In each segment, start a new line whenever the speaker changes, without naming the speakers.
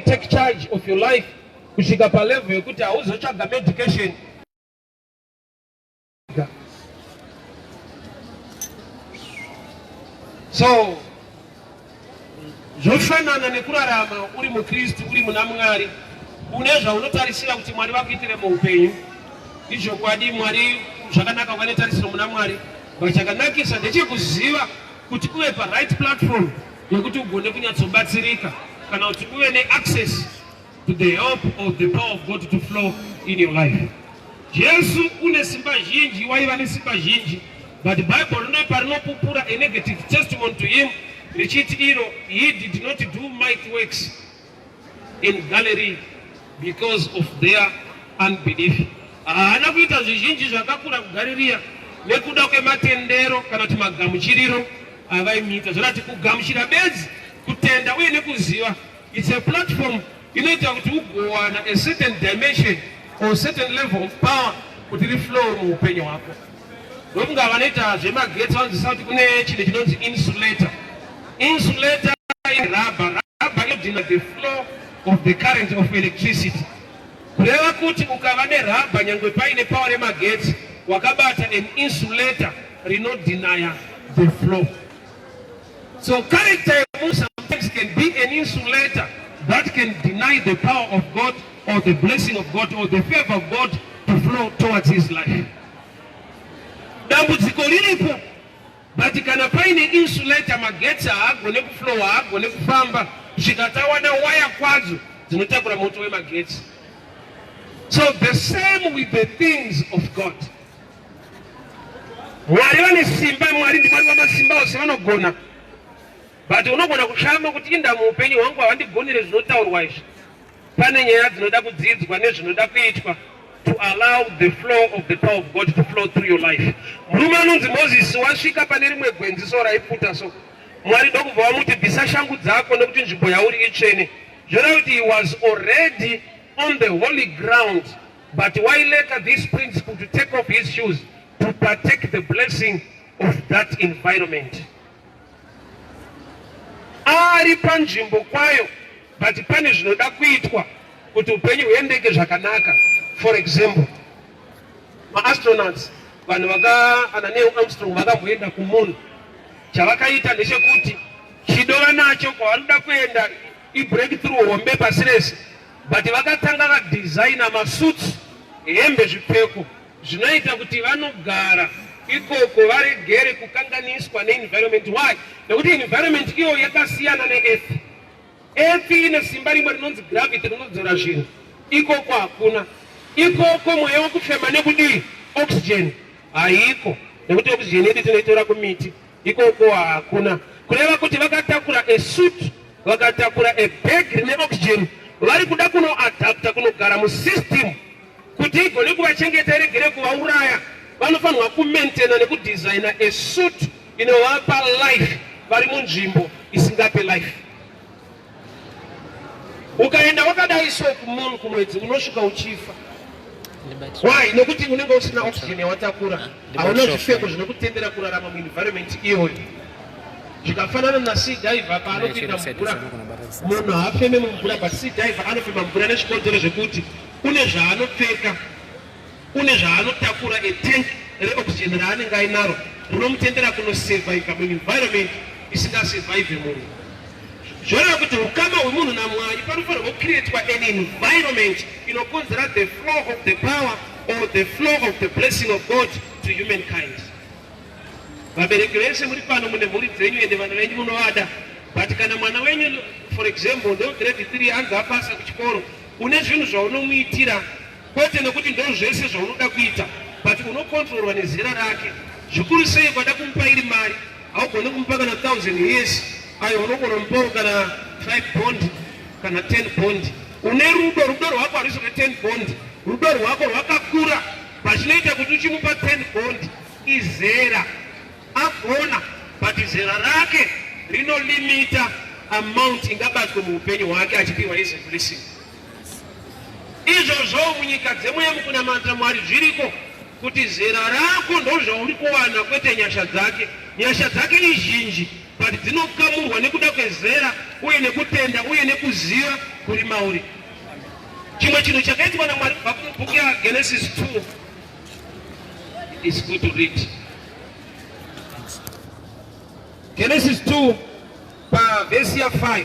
take charge of your life kusvika palevel yekuti hauzotsvaga medication so zvofanana nekurarama uri mukristu uri muna mwari une zvaunotarisira kuti mwari vakuitire muupenyu izvokwadi mwari zvakanaka vane tarisiro muna mwari but chakanakisa ndechekuziva kuti uve paright platform yekuti ugone kunyatsobatsirika kana kuti uve neaccess to the help of the power of God to flow in your life. Jesu une simba zhinji, waiva nesimba zhinji, but Bible rine parinopupura a negative testimony to him richiti iro he did not do mighty works in gallery because of their unbelief. Haana kuita zvizhinji zvakakura kugaririya nekuda kwematendero kana kuti magamuchiriro avaimiita. Zvorati kugamuchira bedzi, kutenda uye nekuziva. It's a platform inoita kuti ugowana a certain dimension or certain level of power kuti riflow muupenyu hwako. ndokunga vanoita zvemagetsi vanzwisa kuti kune chinhu chinonzi insulator insulator irabha rabha inodhina the flow of the current of electricity kureva kuti ukava nerabha nyangwe paine pawa remagetsi wakabata an insulator rinodhinaya the flow so character yemunhu sometimes can be an insulator that can deny the power of god or the blessing of god or the favor of god to flow towards his life dambudziko riripo but kana paine insulator magetsi haagone kuflowa haagone kufamba kusvika tawana waya kwadzo dzinotakura moto wemagetsi so the same with the things of god mwari vane simba mwari ndimwari vamasimba ose vanogona but unogona kushama kuti indamu upenyu hwangu havandigonere zvinotaurwa izvi Pane nyaya dzinoda kudzidzwa nezvinoda kuitwa to allow the flow of the power of God to flow through your life. Murume anonzi Moses wasvika pane rimwe gwenzi so raipfuta so Mwari ndokubva wamuti bvisa shangu dzako nekuti nzvimbo yauri itsvene. Zvoreva kuti he was already on the holy ground but why later this principle to take off his shoes to partake the blessing of that environment. Ari panzvimbo kwayo but pane zvinoda kuitwa kuti upenyu huendeke zvakanaka for example maastronauts vanhu vakaana neil armstrong vakamboenda kumunhu chavakaita ndechekuti chido vanacho kwavanoda kuenda ibreakthrough hombe pasi rese but vakatanga vadesigna masuits hembe zvipfeko zvinoita kuti vanogara ikoko varegere kukanganiswa neenvironment why nekuti environment iyo yakasiyana neearth Earth ine simba rimwe rinonzi gravity rinodzora zvinhu. Ikoko hakuna. Ikoko mweya wekufema nekudii? Oxygen haiko nekuti oxygen yedu tinoitora kumiti. Ikoko hakuna. Kureva kuti vakatakura a suit, vakatakura a bag rine oxygen, vari kuda kunoadapta kunogara musystem kuti igone kuvachengeta iregere kuvauraya. Vanofanirwa kumaintaina nekudesigner a suit inovapa life vari munzvimbo isingape life. Ukaenda wakadai so kumunhu kumwedzi unosvika uchifa. Why? Nokuti unenge usina oxygen yawatakura, hauna zvipfeko zvinokutendera kurarama muenvironment iyoyo. Zvikafanana na sea diver paanopinda mvura, munhu haafeme mumvura but sea diver anofema mvura nezvikonzero zvekuti une zvaanopfeka une zvaanotakura a tank reoxygen raanenge ainaro rinomutendera kunosurviva muenvironment isingasurvive munhu zvoreva kuti ukama hwemunhu namwari panofanirwa kucreatwa an environment inokonzera the flow of the power or the flow of the blessing of god to humankind vabereki vese muri pano mune mhuri dzenyu ende vana venyu munovada but kana mwana wenyu for example ndograde three anzi apasa kuchikoro une zvinhu zvaunomuitira kwete nekuti ndozvese zvaunoda kuita but unokontrorwa nezera rake zvikuru sei kwada kumupa iri mari haugone kumupa kana 1000 years ayo unogona mupawo kana 5 bond kana 10 bond une rudo rudo rwako harisi rwe 10 bond rudo rwako rwakakura pachinoita kuti uchimupa 10 bond izera agona but izera rake rinolimita amount ingabatwe muupenyu hwake achipiwa izi blessing Izvozvo munyika dzemuya mukunamata Mwari zviriko kuti zera rako ndozvauri kuwana kwete nyasha dzake. Nyasha dzake izhinji but dzinokamurwa nekuda kwezera uye nekutenda uye nekuziva kuri mauri. Chimwe chinhu chakaitwa naMwari kubva kumubhuku yaGenesis 2 is good to read. Genesis 2 pavhesi ya 5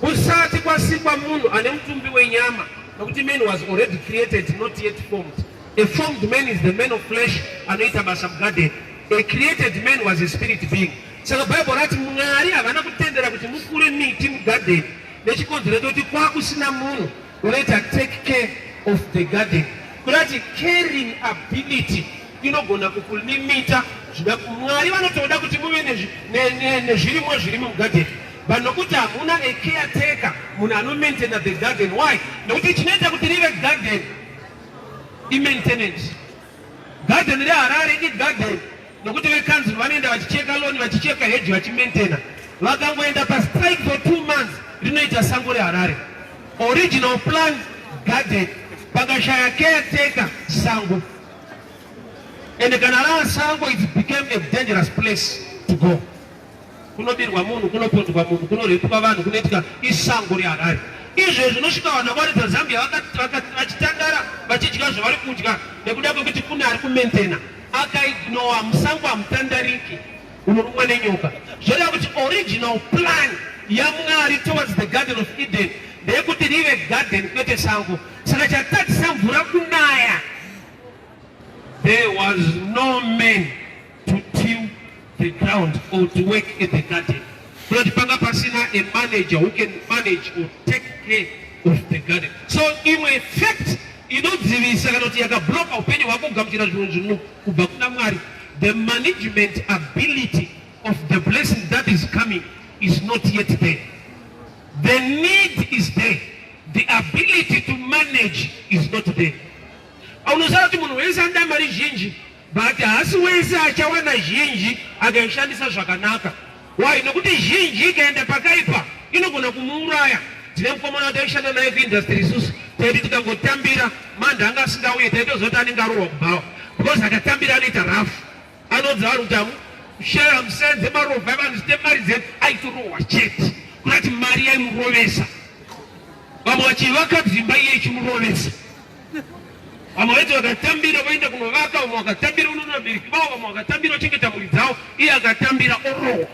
Kusati kwasikwa munhu ane mutumbi wenyama nokuti man was already created not yet formed. A formed man is the man of flesh anoita basa mugarden. A created man was a spirit being. Saka Bible rati Mwari havana kutendera kuti mukure miti mugarden nechikonzero chokuti kwakusina munhu Kunoita take care of the garden kunati caring ability inogona kukulimita zvida mwari vanotoda kuti muve nezvirimwa zviri mugarden but nokuti hamuna a caretaker munhu anomaintaina the garden why nokuti chinoita kuti rive garden imaintenance Garden reHarare igarden nokuti vekanzuru vanoenda vachicheka loni vachicheka heji vachimentena vakangoenda pastrike for two months rinoita sango reharare original plan garden pakashaya caretaker sango ende kana rava sango it became a dangerous place to go kunobirwa munhu kunopondwa munhu kunorepwa vanhu kunoitika isango reharare izvo zvinosvika vanhu vavari dzazambia vachitandara vachidya zvavari kudya nekuda kwekuti kune ari kumentena akaignowa musango hamutandariki unorumwa nenyoka zvoreva kuti original plan yamwari towards the garden of eden ndeyekuti rive garden kwete sango saka chatadzisa mvura kunaya there was no man to till the ground or to work in the garden kunoti panga pasina a manager who can manage or take care of the garden so imwe effect inodzivisa kana kuti yakabloka upenyu hwako kugamuchira zvinhu zvino kubva kuna mwari the management ability of the blessing that is coming is not yet there the need is there the ability to manage is not there aunoziva kuti munhu wese anoda mari zhinji But hasi wese achawana zhinji akaishandisa zvakanaka. Why? Nokuti zhinji ikaenda pakaipa inogona kumuuraya. Tine mukomana wataishanda naye kuindustry isusu taiti tikangotambira manda anga asingauye taitozoti anenge arorwa kubhawa because akatambira anoita rafu anonzi vanhu kuti amushaya musenze marovha evanhu zite mari dzedu aitorohwa chete kunati mari yaimurovesa vamwe vachivaka dzimba iye ichimurovesa Vamwe vaiti vakatambira vaenda kunovaka, vamwe vakatambira unoona vabereki vavo, vamwe vakatambira ochengeta mhuri dzavo, iye akatambira orowa.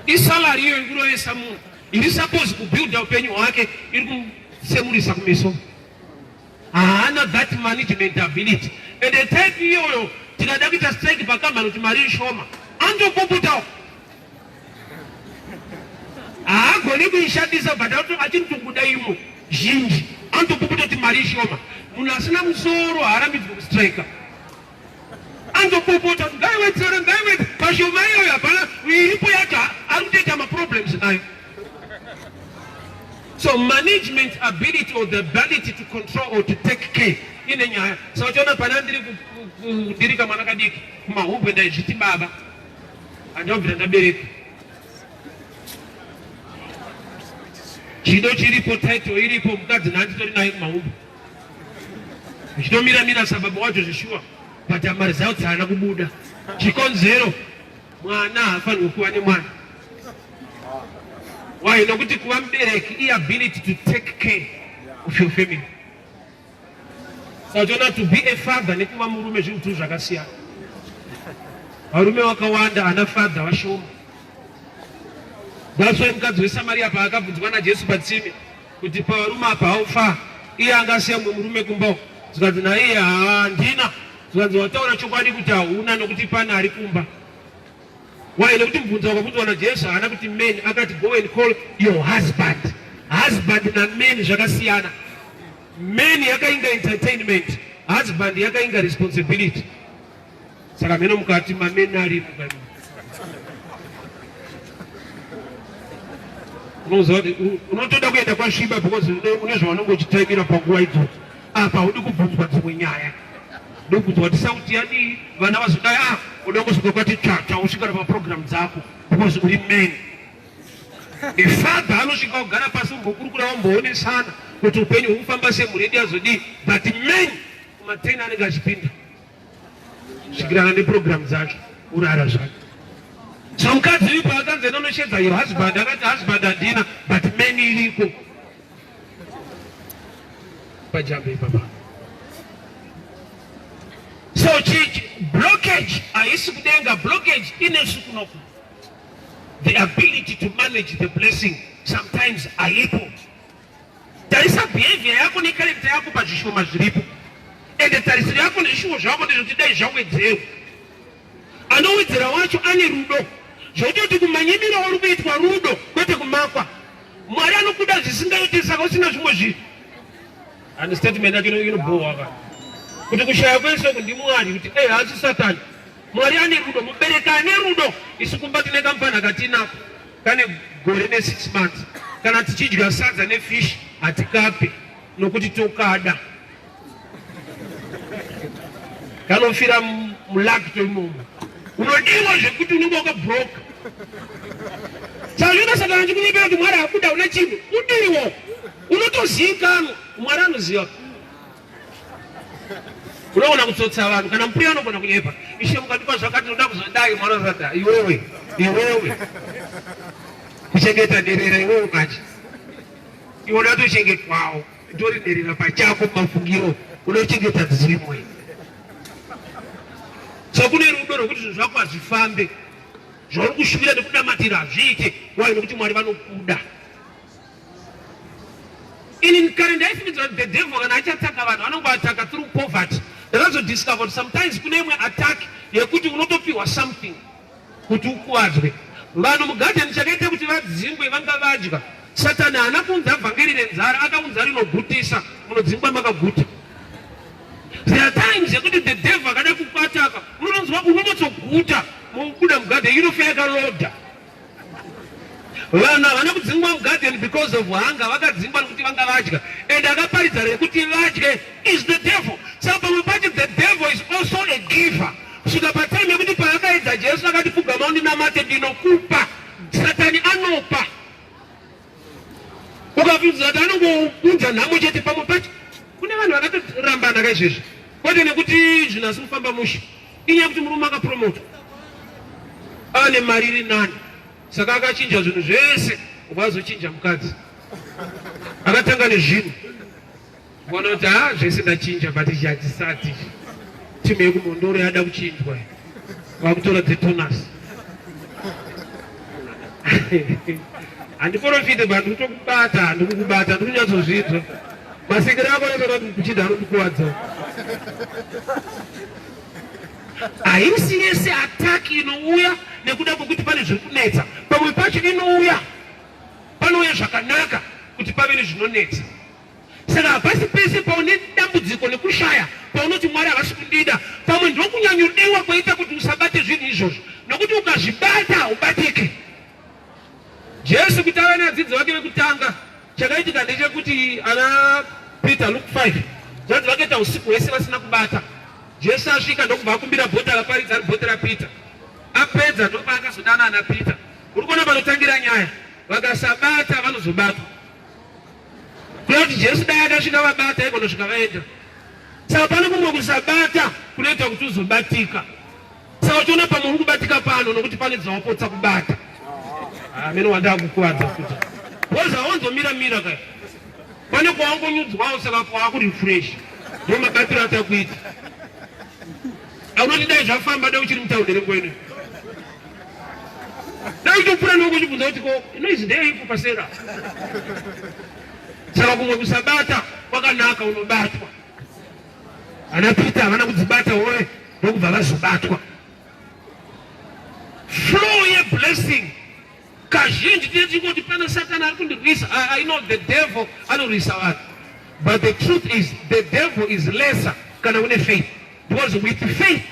Isalari iyo ikurovesa munhu iri suppose kubuilda upenyu hwake iri kusemurisa kumeso. Haana that management ability and the type iyoyo tikada kuita strike pakambani kuti mari ishoma andopopotawo haagoni kuishandisa but achiri tokuda imo zhinji anotokuputoti mari ishoma munhu asina musoro haarambidzwe kustrika anotopopota kuti ngaiwedzere ngaiwedze pashoma iyoyo hapana iripo yacho ari kutoita maproblems nayo so management ability or the ability to control or to take care ine nyaya saka so, uchiona pana ndiri kudirika mwana kadiki kumahubwe ndaizviti baba andabvira ndabereka chido chiripo title iripo mukadzi naanditori naye kumahumbu zvitomira mira sababa wacho zvishuwa but amari zao dzaana kubuda chikonzero mwana haafanirwe kuva nemwana why nokuti kuva mubereki iability to take care of your family Sachoona to be a father nekuva murume zvinhu two zvakasiyana. Varume vakawanda ana father vashoma. That's why mukadzi weSamaria paakabvunzwa naJesu patsime kuti pavarume apa haufa iye anga asiya mumwe murume kumba uko zvikanzi naiye handina zvikanzi wataura chokwadi kuti hauna nokuti pane ari kumba Why? Nekuti mubvunzo wakabvunzwa naJesu haana kuti men, akati go and call your husband. Husband na men zvakasiyana. Men yakainga entertainment, husband yakainga responsibility. Saka meno mukati mamen ari unozoda unotoda kuenda kwasviba because une zvaunenge uchitaimira panguva idzodzo apa haudi kubvunzwa dzimwe nyaya ndokubvunzwa kuti sauti yadii vana vazodai a ah, uda kusvika kwati tsvatsva usvikana paprogramu dzako because uri man ifather anosvika kugara pasi umbokurukura wamboonesana kuti upenyu hwekufamba semhuri yedu yazodii but man kumateni anenge achipinda svikirana neprogramu dzake urara zvake so mukadzi ipo akanzi enda unoshedza your husband akati husband handina but man iriko Pajambe papa. So chichi blockage haisi kudenga blockage inesu kunoku. The ability to manage the blessing sometimes haipo. Tarisa behavior yako ne character yako pazvishoma zviripo. Ende tarisiro yako nezvishuwo zvako ndizvo tidai zvawedzewo. Anowedzera wacho ane rudo zvototi kumanyimira wari kuitwa rudo kwete kumakwa. Mwari anokuda zvisingaiti saka usina zvimwe zvinhu. And statement yacho inobhowa ka kuti kushaya kwese uku ndiMwari kuti eh haasi Satani. Mwari ane rudo, mubereki ane rudo. Isu kumba tine kamfana katinako kane gore ne six months kana tichidya sadza nefish hatikape nokuti tokada. kanofira mulakto imomo unodiwa zvekuti unenge wakabroka sazvino satana chikunyepera kuti mwari akuda una chinhu udiwo unotoziikanwa mwari anoziva unoona kutsotsa vanhu kana mupuri anogona kunyepa ishe mukandipa zvakati noda kuzodai mwari asata iwewe iwewe kuchengeta derera iwewe kachi iwe uda tochengetwawo Ndoriderera pachako mafungiro unochengeta dzirimwe so kune rudo rwekuti zvinhu zvako hazvifambe zvauri kushuvira nekunamatira hazviite wai nekuti mwari vanokuda ini kare ndaifungidzira kuti the devil kana achataka vanhu anonge ataka through poverty ndakazodiscover kuti sometimes kune imwe attack yekuti unotopiwa something kuti ukuwadzwe vanhu mugadheni chakaita kuti vadzingwe vanga vadya satani haana kuunza vhangeri renzara akaunza rinogutisa munodzingwa makaguta there are times yekuti the devil akada kukwataka unononzwa unonotsoguta mukuda mugadheni inofa yakarodha vanhu havana kudzingwa mugadheni because of hunger vakadzingwa nekuti vanga vadya and akaparidza rekuti vadye is the devil saka pamwe pacho the devil is also a giver kusvika patime yekuti paakaedza Jesu akati pfugama undinamate ndinokupa satani anopa ukabvunza kuti anongounza nhamo chete pamwe pacho kune vanhu vakatorambana ka izvezvi kwete nekuti zvinhu asi kufamba mushe inyaya yekuti murume akapromota ane mari iri nani saka akachinja zvinhu zvese ubva azochinja mukadzi akatanga nezvinhu Wanoti haa zvese ndachinja but ichi hachisati timu yekumhondoro yada kuchinjwa vakutora dzetonasi handiporofite but ndikutokubata handikukubata ndikunyatsodzvinzwa masikiro ako anotoda kuti kuchida anondikuwadza haisi yese ataki inouya nekuda kwekuti pane zviri kunetsa pamwe pacho inouya panouya zvakanaka kuti pave nezvinonetsa Saka hapasi pese paune dambudziko nekushaya paunoti Mwari havasi kundida. Pamwe ndokunyanyodewa kwaita kuti usabate zvinhu izvozvo, nokuti ukazvibata ubatike. Jesu kuti ave nevadzidzi vake vekutanga, chakaitika ndechekuti ana Peter, Luke 5, zvanzi vakaita usiku hwese vasina kubata. Jesu asvika ndokubva akumbira bota raparidza ari bota raPeter. Apedza ndopaakazodana ana Peter. Uri kuona panotangira nyaya, vakasabata vanozobatwa. Kuti Jesu dai akasvika vabata igona svika vaenda. Saka pane kumwe kusabata kunoita kuti uzobatika. Saka uchiona pamwe uri kubatika pano nokuti pane dzawapotsa kubata. Amene ah, wandaa kukuvadza futi. Woza wonzomira mira kaya. Pane kwawangonyudzwawo saka kwakuri fresh. Ndio mabatiro atakuita. Aunoti dai zvafamba dai uchiri mutaundere kwenu. ndaitopura nokuchibvunza kuti ko noizi ndeyeipo pasera saka kumwe kusabata kwakanaka unobatwa ana pita havana kudzibata woe ndokubva vazobatwa flow yeblessing kazhinji tine tichingoti pana satani ari kundirwisa i know the devil anorwisa vanhu but the truth is the devil is lesser kana une faith because with faith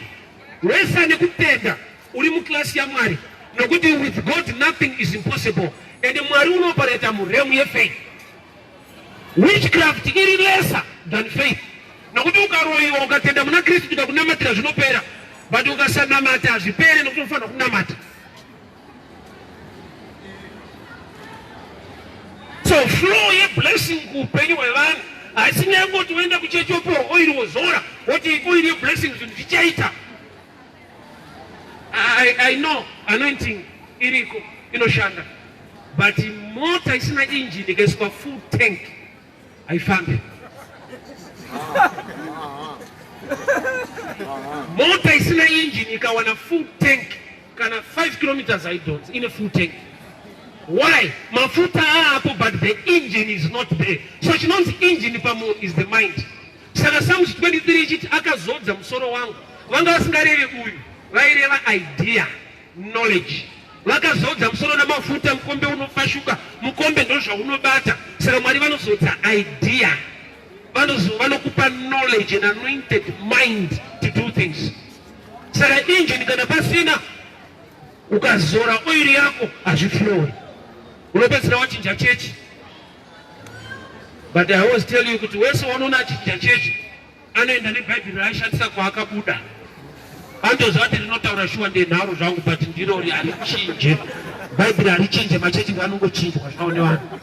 wese ane kutenda Uri muclass yaMwari nokuti with God nothing is impossible and Mwari unopareta muremu yefaith. Witchcraft iri lesser than faith nokuti ukaroyiwa ukatenda muna Kristu kuda kunamatira zvinopera but ukasanamata hazvipere nokuti unofanira kunamata. So flow yeblessing kuupenyu hwevanhu haisi nyangoti woenda kuchechi opiwa oiri wozora woti oiri yeblessing zvinhu zvichaita I, I know anointing iriko inoshanda but mota isina engine ikaiswa full tank haifambi mota isina engine ikawana full tank kana 5 kilometers haidhonzi ine full tank why mafuta aapo but the engine is not there so chinonzi engine pamunhu is the mind Saka Psalms 23 ichiti akazodza musoro wangu, vanga vasingarevi uyu, vaireva idea, knowledge. Vakazodza musoro namafuta, mukombe unofashuka, mukombe ndozvaunobata. Saka Mwari vanozodza idea, vanokupa knowledge and anointed mind to do things. Saka engine kana pasina, ukazora oiri yako hazviflowe, unopedzisira wachinja chechi. But I always tell you kuti wese wanoona achinja chechi anoenda nebhaibheri raaishandisa kwaakabuda andoziva kuti rinotaura shuwa ndenharo zvangu but ndiro harichinje bhaibheri harichinje machechi anongochinjwa zvavo nevanhu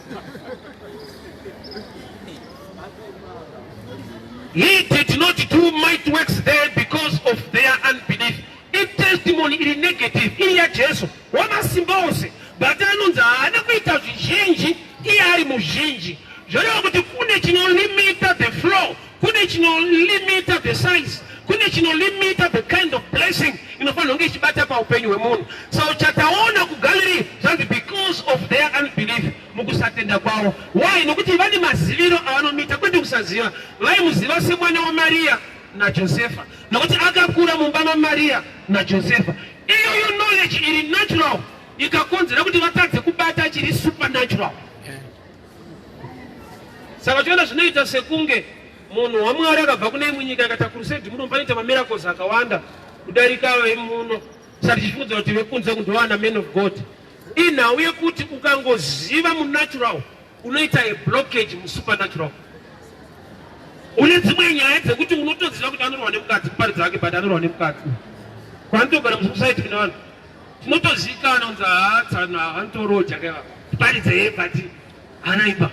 He did not do might works there because of their unbelief. If testimony is negative, in your Jesus, wamasimba ose but anonzi haana kuita zvizhinji iye ari muzhinji zvoreva kuti kune chinolimita the flow kune chinolimita the size kune chinolimita the kind of blessing inofanirwa kunge ichibata paupenyu hwemunhu so chataona kugallery zvanzi because of their unbelief mukusatenda kwavo why nokuti vane maziviro avanomuita kwete kusaziva vaimuziva semwana wamariya najosefa nokuti akakura mumba mamariya najosefa Iyoyo knowledge iri natural ikakonzera kuti vatadze kubata chiri supernatural. Saka choenda zvinoita sekunge munhu waMwari akabva kune imwe nyika akati akurusedi muno panoita mamiracles akawanda kudarika vemuno sati chifunza kuti vekunze kundowana man of God. Inhau yekuti ukangoziva munatural unoita a blockage musupernatural une dzimwe nyaya dzekuti unotoziva kuti anorwa nemukadzi kuparidza wake but anorwa nemukadzi kwanitogara musosaiti kune vanhu tinotoziikana kunzi haatsana anotoroja kaiva kuparidza ye but anaipa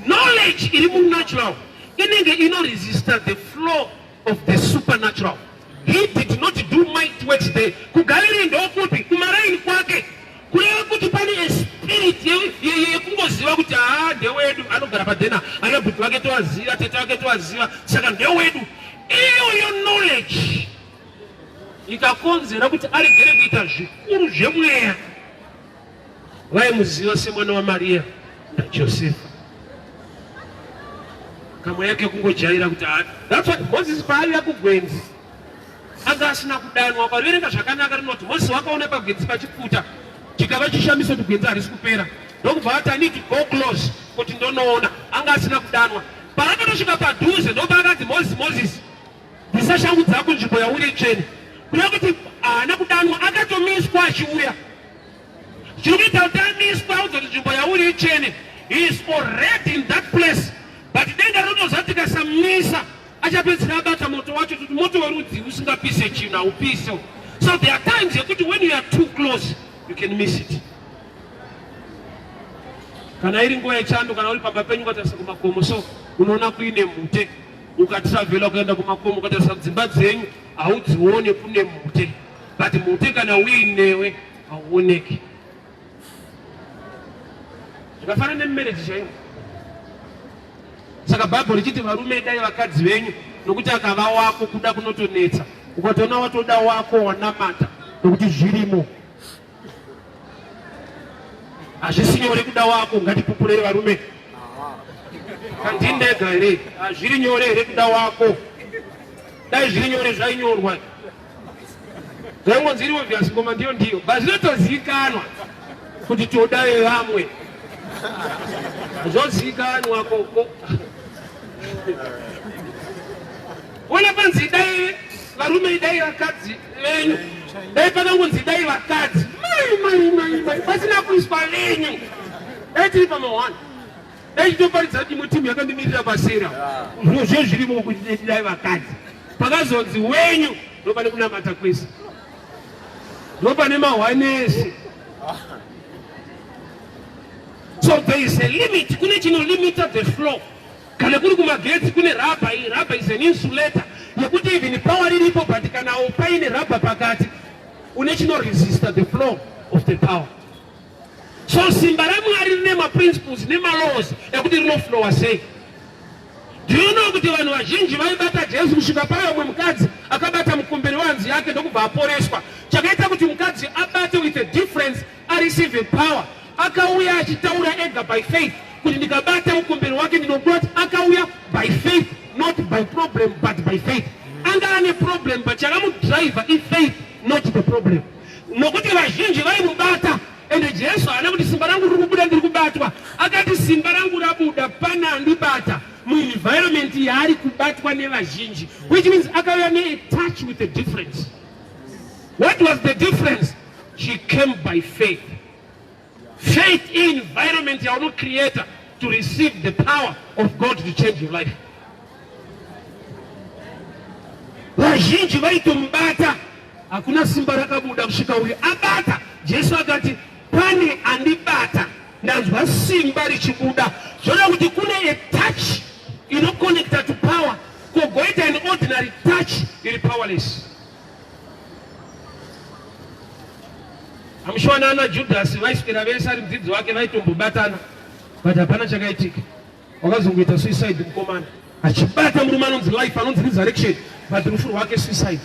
knowledge iri munatural inenge inoresista the flow of the supernatural he did not do might works there kugaliri ndokupi kumaraini kwake kureva kuti pane espirit yekungoziva kuti haa ndewedu anogara padhena ana bhuti vake tovaziva tete vake tovaziva saka ndewedu iyoyo knowledge ikakonzera kuti aregere kuita zvikuru zvemweya vaimuziva semwana wamariya najosefa kamwe yake kungojaira kuti that's what moses paaiva kugwenzi anga asina kudanwa ukaverenga zvakanaka rinoti moses wakaona pagwenzi pachipfuta chikava chishamiso kuti gwenzi harisi kupera ndokubva vati i need to go close kuti ndonoona anga asina kudanwa paakatosvika padhuze ndopaakanzi moses moses bvisa shangu dzako nzvimbo yauri itsvene kuda kuti haana kudanwa akatomiswa achiuya Chinoita kuti amiswe audzwa kuti nzvimbo yauri ichene is already in that place but denga rinoziva kuti tikasamisa achapedzisira abata moto wacho kuti moto werudzi usingapise chinhu haupise so there are times yekuti when you are too close you can miss it kana iri nguva yechando kana uri pamba penyu ukatarisa kumakomo so unoona kuine mhute ukatravhela kuenda kumakomo ukatarisa dzimba dzenyu haudzione kune mhute but mhute kana uinewe hauoneki zvakafanana nemumereji chaivo saka bhaibheri richiti varume dai vakadzi venyu nokuti akava wako kuda kunotonetsa ukatoona watoda wako wanamata nokuti zvirimo hazvisi nyore kuda wako ngatipupurei varume kandindega here hazviri nyore here kuda wako dai zviri nyore zvainyorwa Zvaingonzi iri obvious ngoma ndiyo ndiyo but zvinotozivikanwa kuti toda vevamwe zvozivikanwa koko wona panzi idai varume idai vakadzi venyu dai pakangonzi idai vakadzi mai mai mai mai pasina kuiswa venyu dai tiri pamahwani Dai toparidza kuti imwe timu yakandimirira pasera. Zviro zvo zvirimo kuti dai vakadzi. Pakazonzi wenyu ndopane kunamata kwese. Ndopane mahwanese. So there is a limit. Kune chino limiter the flow. Kana kuri kumagetsi kune rubber, rubber is an insulator. Yekuti even power riripo but kana upaine rubber pakati une chino resist the flow of the power. So simba raMwari rine maprinciples nemalaws ekuti rinoflowa sei. Do you know kuti vanhu vazhinji vaibata Jesu kusvika paya umwe mukadzi akabata mukumbiri wanzi yake ndokubva aporeswa. Chakaita kuti mukadzi abate with a difference areceive power. Akauya achitaura ega by faith kuti ndikabata mukumbiri wake ndinobati akauya by faith not by problem but by faith. Anga ane problem but chakamudriver ifaith not the problem. nokuti vazhinji vaimubata ende jesu haana kuti simba rangu riri kubuda ndiri kubatwa akati simba rangu rabuda pane andibata muenvironment yaari kubatwa nevazhinji which means akauya neatouch with the difference what was the difference she came by faith Faith in environment yauno creator to receive the power of God to change your life. Vazhinji vaitomubata hakuna simba rakabuda kusvika uyu abata. Jesu akati pane andibata ndanzwa simba richibuda. Zvoda kuti kune a touch inoconnecta to power kogoita an ordinary touch iri powerless. Amushona ana Judhasi vaiswera vese ari mudzidzi wake vaitombobatana but hapana chakaitika. Wakazongoita suicide mukomana achibata murume anonzi life anonzi resurrection but rufu rwake suicide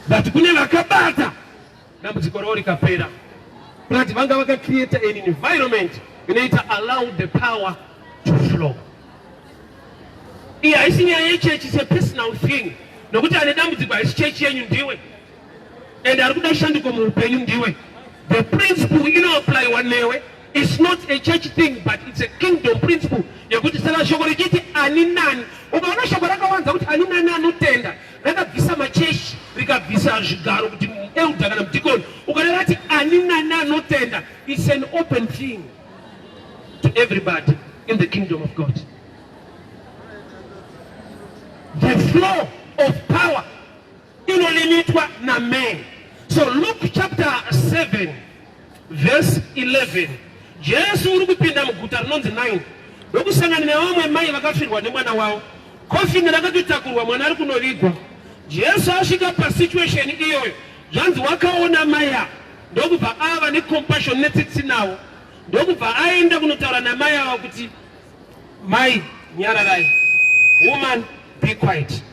but kune vakabata dambudziko ravo rikapera but vanga vakacreata an environment inoita allow the power to flow iyi haisi nyaya yechechi is a personal thing nokuti ane dambudziko haisi chechi yenyu ndiwe and ari kuda shanduko muupenyu ndiwe the principle inoapplywa newe is not a church thing but it's a kingdom principle yekuti saka shoko richiti ani nani ukaona shoko rakawanza kuti ani nani anotenda rakabvisa machechi rikabvisa zvigaro kuti elder kana mudikoni ukareva ati ani nani anotenda its an open thing to everybody in the kingdom of god the flow of power inolimitwa naman so luke chapter 7 Verse 11 Jesu uri kupinda muguta rinonzi Naini ndokusangana nevamwe mai vakafirwa nemwana wavo. Kofini rakatotakurwa mwana ari kunovigwa. Jesu asvika pasituation iyoyo, zvanzi wakaona mai ava ndokubva ava necompassion netsitsi navo, ndokubva aenda kunotaura namai ava kuti mai nyararai, woman be quiet.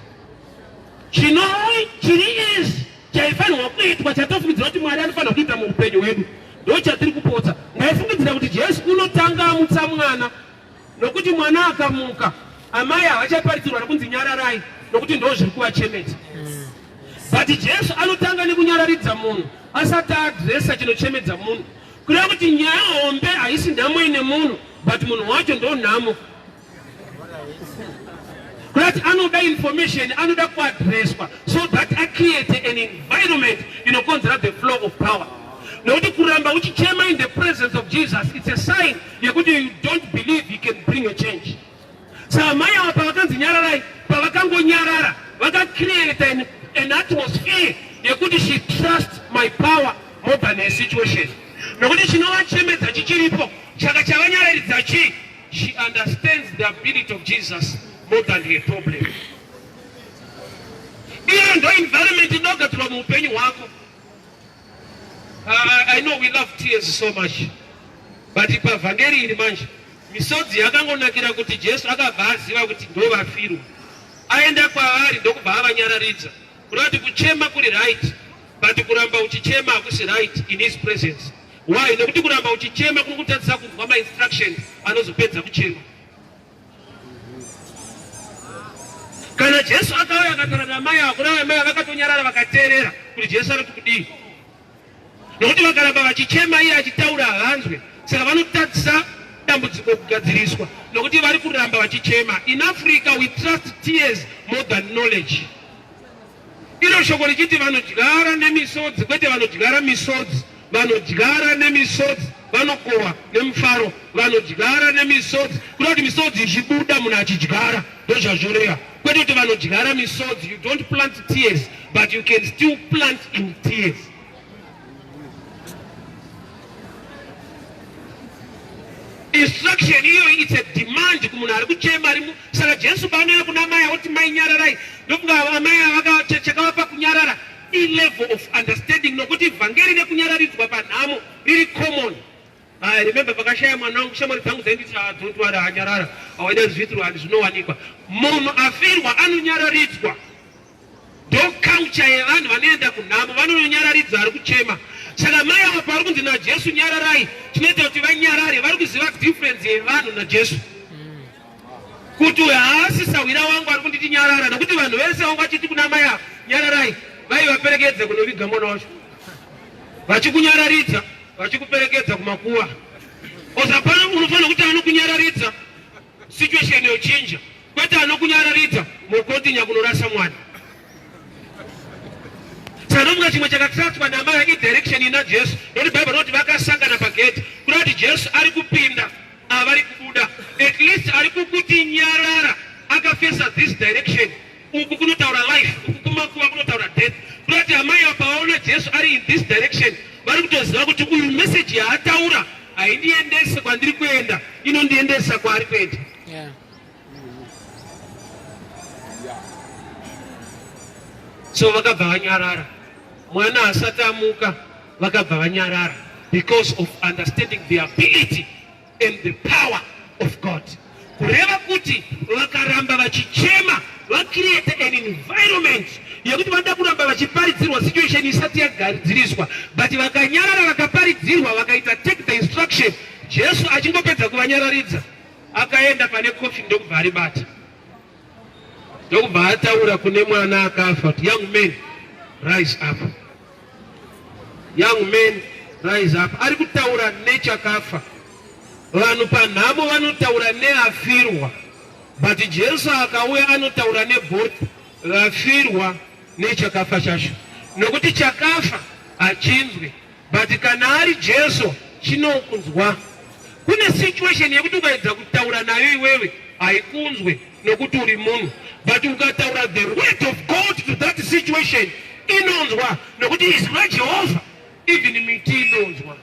Chinoi chiri izvi chaifanirwa kuitwa chatofungidzira kuti mwari anofanira kuita muupenyu hwedu ndo chatiri kupotsa ndaifungidzira kuti jesu unotanga amutsa mwana nokuti mwana akamuka amai havachaparitsirwa nokunzi nyararai nokuti ndo zviri kuvachemeta but jesu anotanga nekunyararidza munhu asati adresa chinochemedza munhu kureva kuti nyaya hombe haisi nhamo ine munhu but munhu wacho ndo nhamo That anoda information anoda kuadreswa so that I create an environment inokonzera the flow of power nokuti kuramba uchichema in the presence of Jesus it's a sign yekuti you don't believe you can bring a change saka mai ava pavakanzi nyararai pavakangonyarara vakacreate an, an atmosphere yekuti she trust my power more than her situation nokuti chinovachemedza chichiripo chaka chavanyararidza chii She understands the ability of Jesus more than her problem. Iyo ndo environment inogadzirwa muupenyu hwako. Uh, I know we love tears so much. But pavhangeri iri manje misodzi yakangonakira kuti Jesu akabva aziva kuti ndovafirwa. Aenda kwavari ndokubva avanyararidza. Kunoti kuchema kuri right but kuramba uchichema hakusi right in his presence. Why? Nekuti kuramba uchichema kunokutadzisa kunzwa ma instructions anozopedza kuchema. Kana Jesu akauya akataura namai avo, kuna amai vakatonyarara vakateerera kuti Jesu ari kudii. nokuti vakaramba vachichema iye achitaura haanzwe saka vanotadzisa dambudziko kugadziriswa nokuti vari kuramba vachichema in africa we trust tears more than knowledge iro shoko richiti vanodyara nemisodzi kwete vanodyara misodzi vanodyara nemisodzi vanokohwa nemufaro vanodyara nemisodzi kuda kuti misodzi ichibuda munhu achidyara ndozvazvoreva kwete kuti vanodyara misodzi you don't plant tears but you can still plant in tears instruction iyo it's a demand kumunhu ari kuchema ari saka jesu paanoenda kuna mai akuti mai nyararai ndofunga amai avakachakavapa kunyarara ilevel of understanding nokuti vhangeri nekunyararidzwa panhamo riri common I remember pakashaya mwana wangu shamwari dzangu dzainditi dzotwara anyarara awaida zviitiro handi zvinowanikwa munhu afirwa anonyararidzwa ndokaucha yevanhu vanoenda kunhamo vanonyararidza ari kuchema saka mai ava pavari kunzi najesu nyararai tinoita kuti vanyarare vari kuziva difference yevanhu najesu kuti uyo haasi sahwira wangu ari kunditi nyarara nokuti vanhu vese vangu vachiti kuna mai ava nyararai vaivaperekedza kunoviga mwana wacho vachikunyararidza vachikuperekedza kumakuva bcause hapana unofanira kuti anokunyararidza situation yochinja kwete anokunyararidza mokontinya kunorasa mwana tinomuka chimwe chakatiratswa namaya idirection ina jesu noti bhaibheri rinoti vakasangana pagedhi kuda kuti jesu ari kupinda avari kubuda at least ari kukuti nyarara akafesa this direction Uku kunotaura life, uku kumakuva kunotaura death. Kunoti amai apa vaona Jesu ari in this direction, vari kutoziva kuti uyu message yaataura haindiendese kwandiri kuenda, inondiendesa kwaari kuenda. Yeah. so vakabva vanyarara mwana asati amuka vakabva vanyarara because of understanding the ability and the power of God kureva kuti vakaramba vachichema vacreate an environment yekuti vanoda kuramba vachiparidzirwa situation isati yagadziriswa but vakanyarara vakaparidzirwa vakaita take the instruction jesu achingopedza kuvanyararidza akaenda pane kofi ndokubva aribata ndokubva ataura kune mwana akafa kuti young man rise up Young men rise up ari kutaura nechakafa. Vanhu panhamo vanotaura neafirwa, but Jesu akauya anotaura neboth vafirwa nechakafa chacho, nokuti chakafa hachinzwi, but kana ari Jesu chinokunzwa. Kune situation yekuti ukaedza kutaura nayo iwewe haikunzwe, nokuti uri munhu but ukataura the word of god to that situation inonzwa nokuti izwi rajehovha even miti inonzwa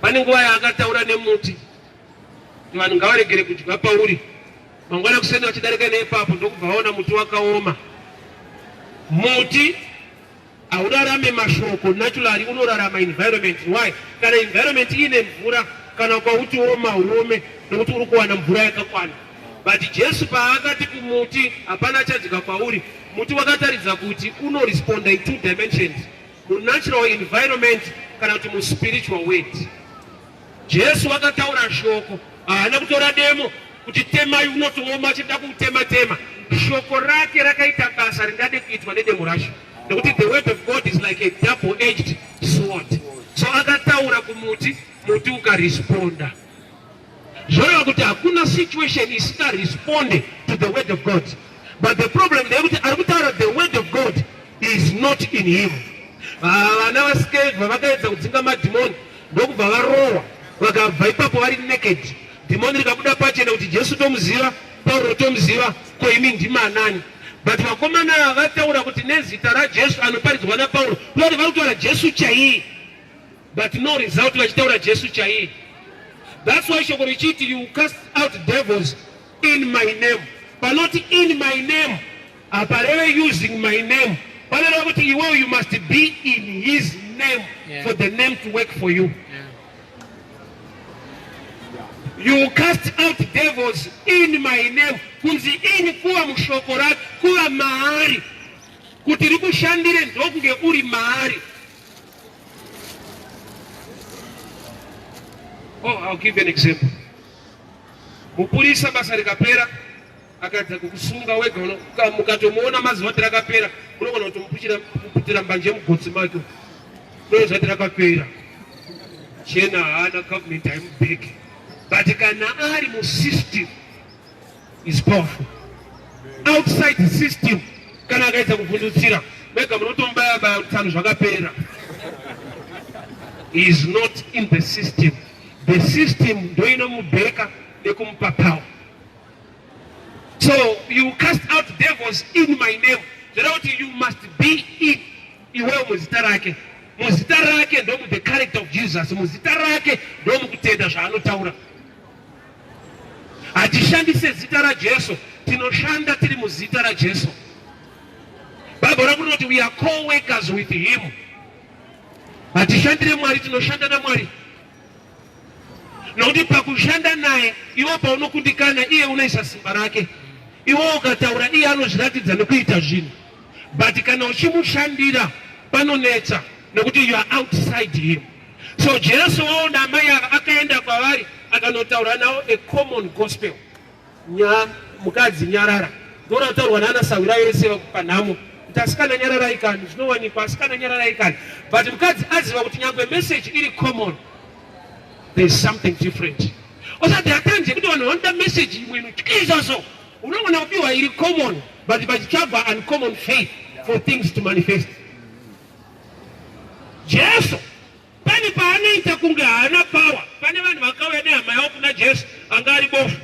pane nguva yaakataura nemuti vanhu ngavaregere kudya pauri mangwana kuseni vachidarika neipapo ndokubva vaona muti wakaoma muti Haurarame mashoko naturally unorarama environment why kana environment ine mvura kana ukauti woma uome nokuti uri kuwana mvura yakakwana but jesu paakati kumuti hapana achadya kwauri muti wakataridza kuti unoresponda in two dimensions munatural environment kana kuti muspiritual word Jesu vakataura shoko, haana kutora demo kuti temai unotooma achida kuutema tema. Shoko rake rakaita basa ringade kuitwa nedemo racho, nekuti the word of God is like a double edged sword. So akataura kumuti, muti ukaresponda. Zvoreva kuti hakuna situation isika responde to the word of God. But the problem ndeyekuti ari kutaura the word of God is not in him. Ah, vana vasikevha vakaedza kudzinga madhimoni ndokubva varohwa vakabva ipapo vari naked dhimoni rikabuda pachena kuti jesu tomuziva pauro tomuziva ko imi ndimi anani but vakomana ava vataura kuti nezita rajesu anoparidzwa napauro vati vari kutaura jesu chaiye but no result vachitaura jesu chaiye thats why shoko richiti you cast out devils in my name panoti in my name Apa reve using my name. Vanova kuti iwewe you must be in his name yeah. for the name to work for you. Yeah. You cast out devils in my name. Kunzi ini kuva mushoko rake kuva maari kuti rikushandire ndokunge uri maari Oh, I'll give an example. Mupurisa basa rikapera akadza kukusunga wega mukatomuona mazuva ati rakapera unogona kutomuputira mbanje yemugotsi make unoona zvati rakapera chena haana government haimubheke but kana ari musystem is powerful outside the system kana akaedza kuvhundutsira mega munotombaya baya utano zvakapera is not in the system the system ndoinomubheka nekumupa power So you cast out devils in my name. Zvireva kuti you must be in iwewe muzita rake. Muzita rake ndomu the character of Jesus. Muzita rake ndomu kutenda zvaanotaura. Hatishandise zita raJesu, tinoshanda tiri muzita raJesu. Bible rakunoti we are co-workers with him. Hatishandire Mwari, tinoshanda naMwari. nokuti pakushanda naye iwo paunokundikana iye unoisa simba rake iwo ukataura iye anozviratidza nekuita zvinhu but kana uchimushandira panonetsa nokuti you are outside him so jesu waona amai ava akaenda kwavari akanotaura nawo a common gospel Nya, mukadzi nyarara ndorautaurwa nana sahwira yese vakupa nhamo kuti asikana nyararai kani zvinowanikwa asikana nyararai kani but mukadzi aziva kuti nyangwe message iri common there's something different osati atanje kuti vanhu vanoda message imwe inotyisa so unogona kupiwa iri common but pachitsvagwa uncommon faith for things to manifest jesu Pane paanoita kunge haana power. Pane vanhu vakauya nehama yavo kuna Jesu anga ari bofu.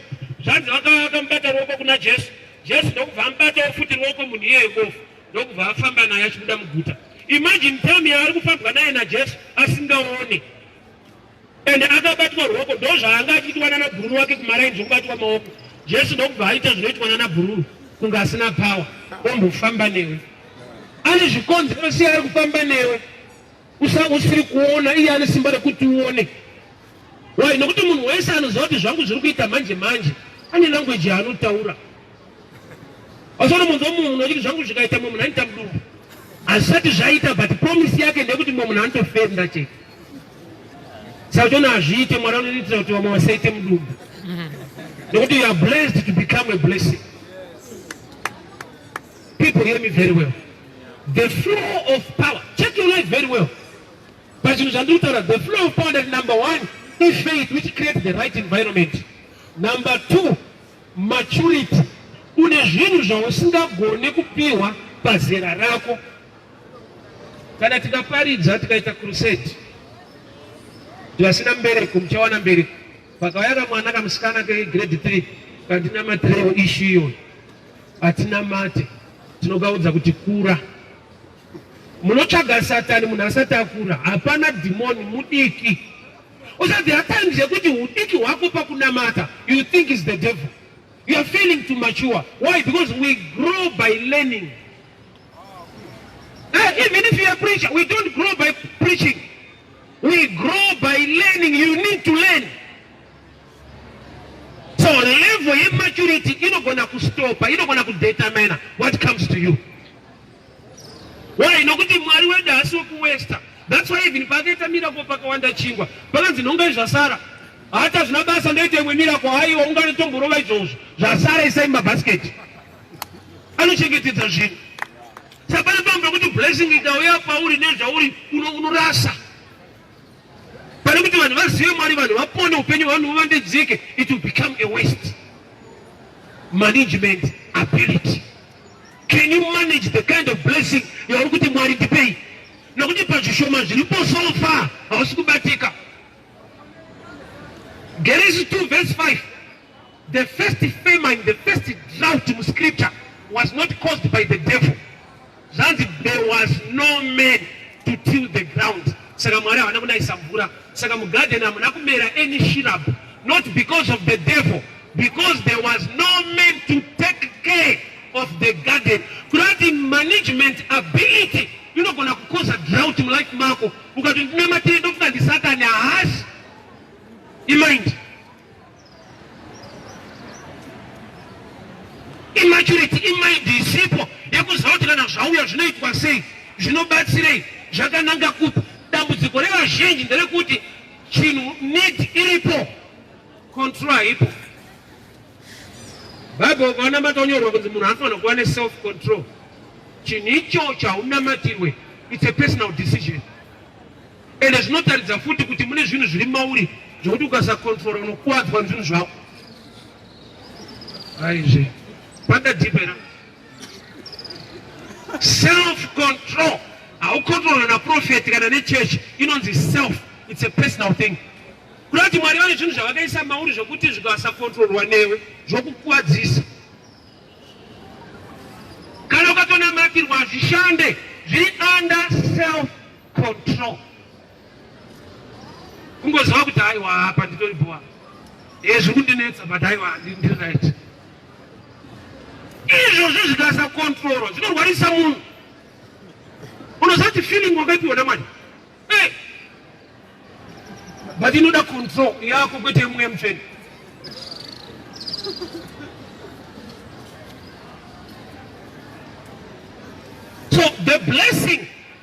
Zvanzi vakauya vakamubata ruoko kuna Jesu. Jesu ndokubva amubatawo futi ruoko munhu iyeyo bofu ndokubva afamba naye achibuda muguta. Imagine time yaari kufambwa naye naJesu asingaone and akabatwa ruoko ndozvaanga achiitwa nana bhururu wake kumaraini zvekubatwa maoko jesu ndokubva aita zvinoitwa nana bhururu kunge asina power ombofamba newe ane zvikonzero sei ari kufamba newe Usange usiri kuona iye ane simba rekuti uone. Why? Nokuti munhu wese anoziva kuti zvangu zviri kuita manje manje ane language yaanotaura. Asono munhu munhu unoti zvangu zvikaita mumwe munhu anoita mudumbu. Azvisati zvaita but promise yake ndeyekuti mumwe munhu anotofenda chete. Saka uchiona hazviite mwari anoitira kuti vamwe vasaite mudumbu. Nokuti you are blessed to become a blessing. People hear me very well. The flow of power. Check your life very well. But you shall do that. The flow of power that number one is faith which creates the right environment. Number two, maturity. Une zvinhu zvausingagone kupiwa pazera rako. Kana tikaparidza tikaita crusade vasina mbereko muchawana mbereko pakauya kamwana kamusikana kegrade three kandinamatirewo ishu iyoyo Hatinamate, tinogaudza kuti kura. Munotsvaga satani munhu asati akura. Hapana dhimoni mudiki. Also there are times yekuti udiki hwako pakunamata you think is the devil. You are failing to mature. Why? Because we grow by learning. Uh, even if you are preacher, we don't grow by preaching. We grow by learning. You need to learn. So level yematurity inogona kustopa, inogona kudetermina what comes to you. Why? Nokuti Mwari wedu haasi wekuwesta. That's why even pakaita miracle pakawanda chingwa, pakanzi nhonga zvasara hata zvina basa ndoita imwe miracle haiwa unganotomborova izvozvo zvasara isai mumabhasiketi anochengetedza zvinhu saka pane pambo kuti blessing ikauya pauri nezvauri unorasa pane kuti vanhu vazive mwari vanhu vapone upenyu vanhu huvandidzike it will become a waste management ability can you manage the kind of blessing yauri kuti mwari ndipei nokuti pazvishoma zviripo so far hausi kubatika genesis 2 verse 5 the first famine the first drought mu scripture was not caused by the devil Zvanzi there was no man to till the ground. Saka Mwari havana kunayisa mvura. Saka mugarden hamuna kumera any shrub. Not because of the devil. Because there was no man to take care of the garden. Kurati management ability. Inogona kukoza drought mu life mako. Ukati ndinamatirei ndofunga ndi Satan. Haasi. Imind. Immaturity imaindi isipo yekuziva kuti kana zvauya zvinoitwa sei, zvinobatsirei, zvakananga kupi. Dambudziko revazhinji nderekuti chinhu need iripo, control haipo. Bible ukaona matonyorwa kunzi munhu anofanira kuva neself control, chinhu icho chaunamatirwe, it's a personal decision. ende zvinotaridza futi kuti mune zvinhu zviri mauri zvekuti ukasakontrola unokuwadzwa zvinhu zvako aizve panda dipera self control haukontrolwe naprofeti kana nechurch inonzi self its a personal thing kuda kuti mwari vane zvinhu zvavakaisa mauri zvekuti zvikasakontrolwa newe zvokukuwadzisa kana ukatonamakirwa zvishande zviri under self control kungoziva kuti haiwa hapa nditori bhowa ezvi kundinetsa but haiwa ndiri right izvozvo zvikasa controlwa zvinorwarisa munhu unozati feeling wakapiwa namwari eh! but inoda control yako kwete mweya mutsvene so the blessing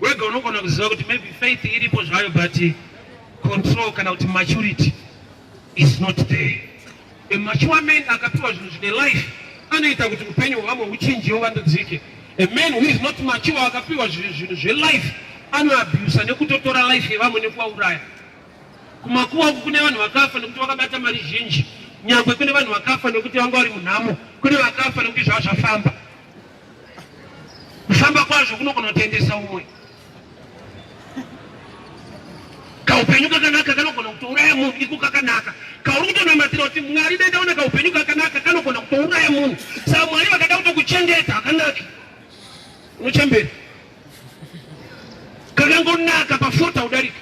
wega unogona kuziva kuti maybe faith iripo zvayo but control kana kuti maturity is not there a mature man akapiwa zvinhu zvine life anoita kuti upenyu hwevamwe huchinjiwo vandudzike a man who is not mature akapiwa zvinhu zvelife anoabhusa nekutotora life yevamwe nekuvauraya kumakuwa uku kune vanhu vakafa nekuti vakabata mari zhinji nyangwe kune vanhu vakafa nekuti vanga vari munhamo kune vakafa nekuti zvava zvafamba Kufamba kwazvo kunokonotendesa umwe. Kaupenyu kakanaka kanogona kutouraya munhu iko kakanaka. Kauri kutonamatira kuti Mwari dai ndaona kaupenyu kakanaka kanogona kutouraya munhu. Saka Mwari vakada kutokuchengeta hakanaki. Unochembera. Kakangonaka pafota udarika.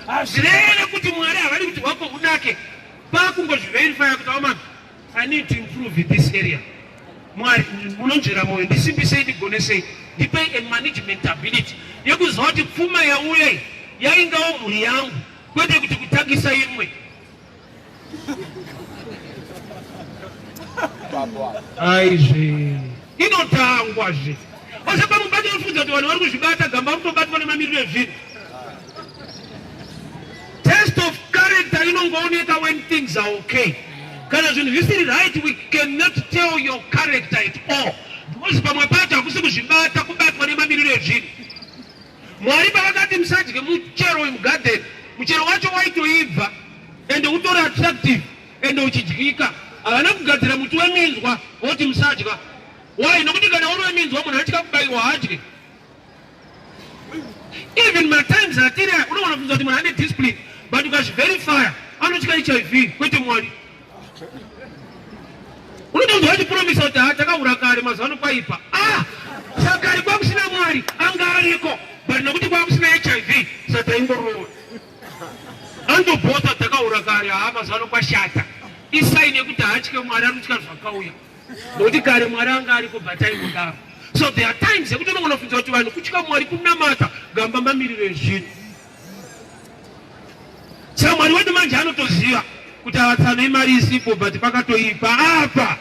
Hazvirere kuti Mwari havadi kuti hwako hunake. Pakungozviverifya kuti aoma I need to improve in this area. Mwari munonzvera moyo ndisimbisei ndigonesei ndipei a management ability yekuziva kuti pfuma yauya iyi yaingawo mhuri yangu kwete kuti kutangisa imwe aizvee inotangwa zve ose pamubati vafudza kuti vanhu vari kuzvibata gamba kutobatwa nemamiriro ezvinhu test of character inongooneka when things are okay kana zvinhu zvisiri right we cannot tell your character at all because pamwe pacho hakusi kuzvibata kubatwa nemamiriro ezvinhu mwari pavakati musadye muchero wemugarden muchero wacho waitoibva ende utori attractive ende uchidyika. Havana kugadzira muti weminzwa voti musadya. Why? Nokuti kana uri weminzwa munhu anotya kubaiwa haadye. Even matimes atiri aya unogona kubvunza kuti munhu ane discipline but ukazviverify anotya hiv kwete mwari unotonzwa vachipromisa kuti ha takahura kare mazuva ano kwaipa ah sakari kwakusina mwari anga ariko but nokuti kwakusina hiv sataingorova Ando bota dzakaura kare haa mazano kwashata. Isai nekuti haatye Mwari anotya zvakauya. Nokuti kare Mwari anga ariko batai mudaro. So there are times yekuti unogona kufunza kuti vanhu kutya Mwari kunamata gamba mamiriro ezvinhu. Saka Mwari wedu manje anotoziva kuti avatsano imari isipo but pakatoipa apa.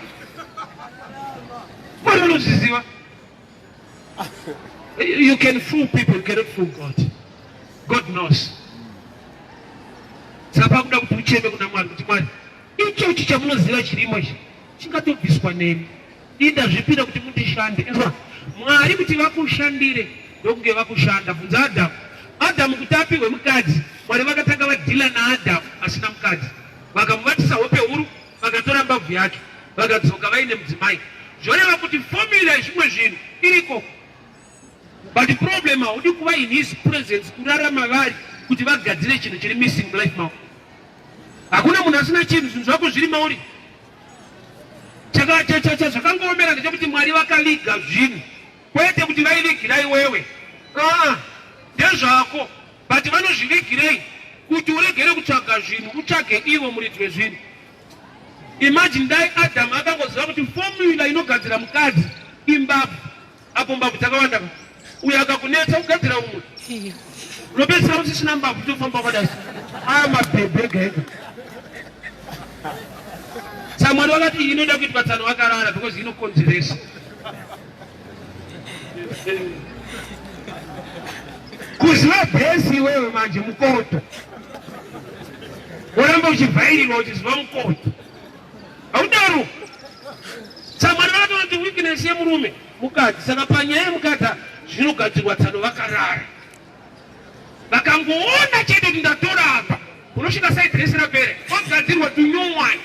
Mwari anozviziva. You can fool people, you cannot fool God. God knows. Saka kuda kuti ucheme kuna Mwari kuti Mwari, ichochi chamunoziva chirimo ichi chingatobviswa nemi. Ini ndazvipira kuti mundishande. Inzwa, Mwari kuti vakushandire ndokunge vakushanda. Bvunza Adamu. Adamu kuti apihwe mukadzi, Mwari vakatanga vadhila naAdamu asina mukadzi. Vakamubatisa hope huru Vakatora mbabvu yacho vakadzoka vaine mudzimai zvoreva kuti formula yezvimwe zvinhu iriko but problem haudi kuva in his presence kurarama vari kuti vagadzire chinhu chiri missing mulife mavo hakuna munhu asina chinhu zvinhu zvako zviri mauri chakachachacha zvakangoomera ndechekuti mwari vakaviga zvinhu Kwete kuti vaivigira iwewe, aa ndezvako, but vanozvivigirei kuti uregere kutsvaga zvinhu utsvage ivo muridzi wezvinhu. Imagine dai Adam akangoziva kuti formula inogadzira mukadzi imbabvu, apo mbabvu dzakawanda uyo akakunetsa kugadzira umwe unopedzisira usisina mbabvu tofamba kwadai aya mabhebhe ega ega samwari wakati inoda kuitwa tsano wakarara because inokonzeresa kuziva bhesi iwewe manje mukoto woramba uchivhairirwa uchiziva mukoto haudaro samwari vakatonoti weakness yemurume mukadzi saka panyaya yemukadzi zvinogadzirwa tsano vakarara vakangoona chete kuti ndatora apa unosvika sai dress rapere ogadzirwa to new one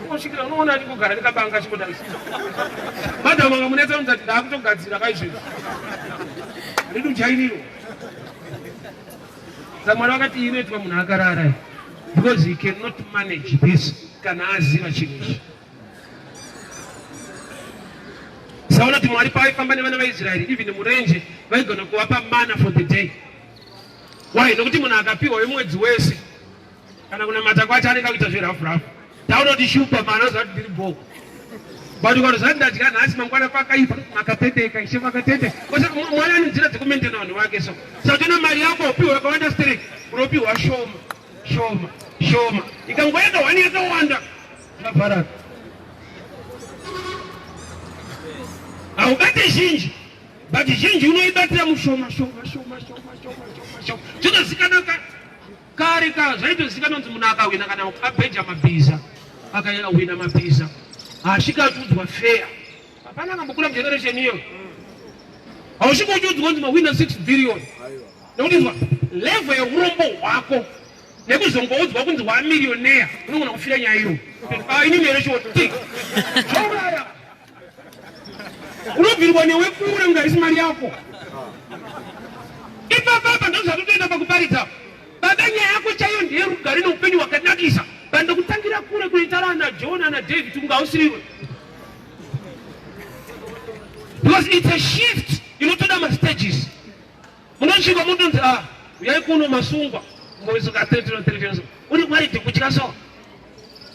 unosvikira unoona ndikugara ndikabanga chikudai madam vanga munetsa unzati ndaakutogadzira kaizvezvo handidi ujairiro samwana vakati iyi inoitwa munhu akarara because he cannot manage this kana aziva chinhu ichi Saona kuti Mwari paaifamba nevana vaIsraeri even murenje vaigona kuvapa mana for the day. Why? Nokuti munhu akapiwa wemwedzi wese kana kunamata kwacho anenge akuita zverafu rafu. Taona kuti shupa mana zvati ndiri bhoo. But ukarozati ndadya nhasi mangwana pakaipa makatendeka ishe makatendeka. Kwese Mwari ane nzira dzekumentena vanhu vake so. Saka na mari yako upiwa yakawanda stereki unopiwa shoma shoma shoma ikangoenda wani yakawanda Zvakaparara. Haubate zhinji but zhinji unoibatira mushoma shoma shoma shoma shoma shoma shoma. Zvinozikanwa ka kare ka zvaitozikanwa kuti munhu akahwina kana abheja mabhiza akahwina mabhiza haasvika achiudzwa fair. Hapana akambokura mugeneration iyo. Hausvika uchiudzwa kuti mahwina 6 billion. Nekuti izwa level yeurombo hwako nekuzongoudzwa kunzi wamirioneya unogona kufira nyaya iro ah, ini mere choti zvauraya unobvirwa newekure kunge haisi mari yako ipapapa ndozvatotoenda pakuparidza baba nyaya yako chaiyo ndiye rugare neupenyu hwakanakisa pandokutangira kure kuitara ana john ana david kunge hausiriwe because it's a shift inotoda mastages Munosvika mutonzi a ah, uyai kuno masungwa mboizoka 33 uri kwaiti kutya so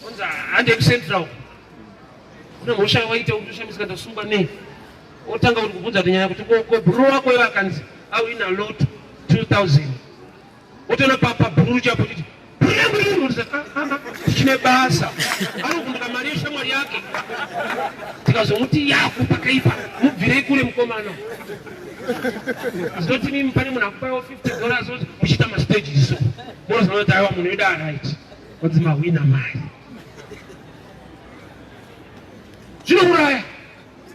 onzi hande kucentral une mhosva yawaita kuti ushamisika ndasungwa nei otanga kuti kubvunza kuti nyaya kuti ko bro wako iwe akanzi awina lot 2000 Wotoona pabhuru chapo kuti tichine basa anokumbira mari yeshamwari yake tikazomuti yaku pakaipa mubvirei kure mukomana zvinoti mimi pane munhu akupawo 50 dollars oti muchiita mastage iso monozoona kuti aiwa munhu weda right onzi mahwina mari zvinouraya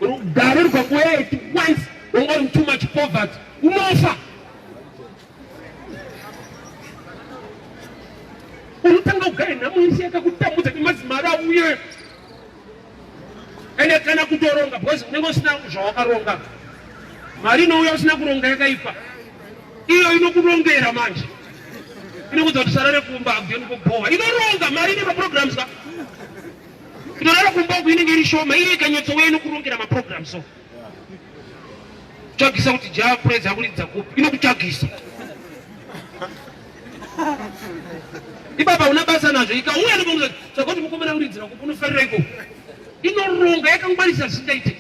rugare rwakuyaya it once wanga uri too much poverty unofa unotanga kugara nhamo yese yakakutambudza nemadzimari auye ende kana kutoronga because unenge usina zvawakaronga mari inouya usina kuronga yakaipa iyo inokurongera manje inokuudza kuti sarare kumba akueni kubhowa inoronga mari ine maprograms ka inorara kumba uku inenge iri shoma iye ikanyotsowe inokurongera maprograms so kutsvagisa kuti java praise akuridza kupi inokutsvagisa ibaba una basa nazvo ikauya nobauza saka kuti mukomana uridzira kupi unofarira iko inoronga yakangwarisa zvisingaite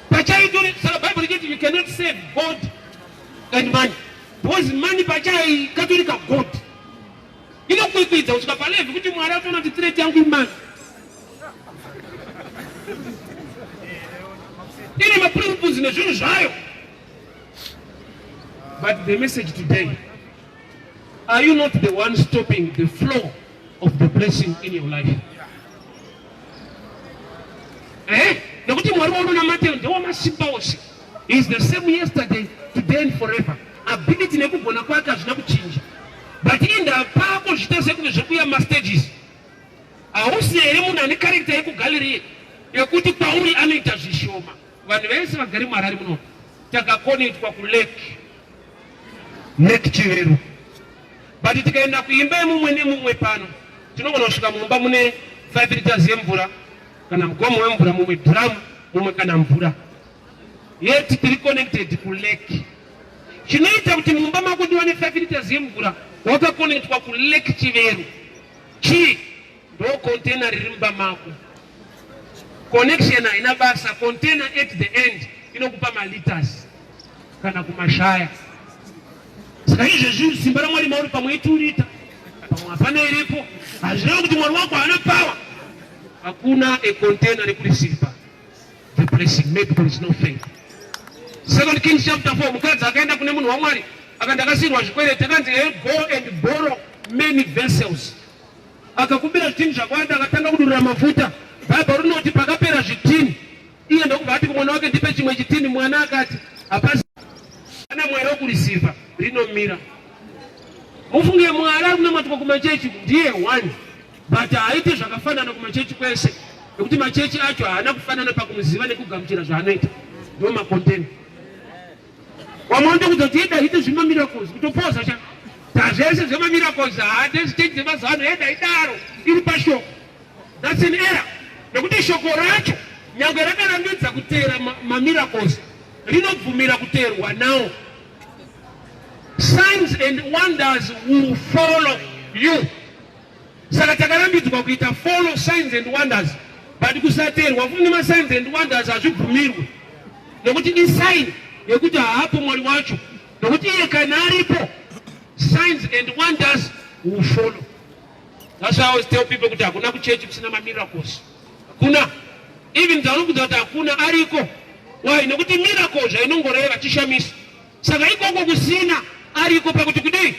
pachaitori saka bible richiti you cannot save god and money because money pachai katori kagod Inokwikwidza kusvika palevi kuti Mwari atoona kuti threat yangu imani. Ine maprinciples nezvinhu zvayo. But the message today, are you not the one stopping the flow of the blessing in your life? Eh? Nekuti Mwari waunonamatira ndewamasimba ose. is the same yesterday today and forever ability nekugona kwake hazvina kuchinja but inda pako zviita sekunge zvekuya mastages hausina here munhu ane karekta yekugallery yekuti pauri anoita zvishoma vanhu vese vagari muharari muno takakonetwa kulake lake chivero but tikaenda kuimba yemumwe nemumwe pano tinogona kusvika mumba mune 5 liters yemvura kana mugomo wemvura mumwe dhiramu mumwe kana mvura yet tiri connected kulake chinoita kuti mumba mako ndiwane 5 liters yemvura wakakonetwa kulake chiveru chii ndo container riri mumba mako connection haina basa container at the end inokupa maliters kana kumashaya saka izvezvi simba ramwari mauri pamwe iturita pamwe hapana iripo hazvireva kuti mwari wako haana pawa hakuna econtainer rekurisiripa the blessing maybe there is no faith second kings chapter 4 mukadzi akaenda kune munhu wamwari aka ndakasirwa zvikwereti akanzi e go and borrow many vessels akakumbira zvitini zvakwanda akatanga kudurira mafuta bhaibheri rinoti pakapera zvitini iye ndokubva ati kumwana wake ndipe chimwe chitini mwana akati hapasi ana mwari wokurisiva rinomira mufunge mwari ari kunamatwa kumachechi ndiye one But haaite zvakafanana kumachechi kwese nekuti machechi acho haana kufanana pakumuziva nekugamuchira zvaanoita ndo makonteni wamaonda kuti tieda hite zvemamiracles kutopoza cha tazvese zvemamiracles haade ziteji dzemazuva ano eda idaro iri pashoko thats an era nekuti shoko racho nyangwe rakarambidza kuteera mamiracles rinobvumira kuteerwa nawo signs and wonders will follow you Saka takarambidzwa kuita follow signs and wonders but kusateerwa futi nemasigns and wonders hazvibvumirwe nokuti isign yekuti haapo mwari wacho nokuti iye kana aripo signs and wonders will follow that's why i always tell people kuti hakuna kuchechi kusina mamiracles hakuna even dzaunokudza kuti hakuna ariko why nokuti miracles zvainongoreva chishamisa saka ikoko kusina ariko pakuti kudii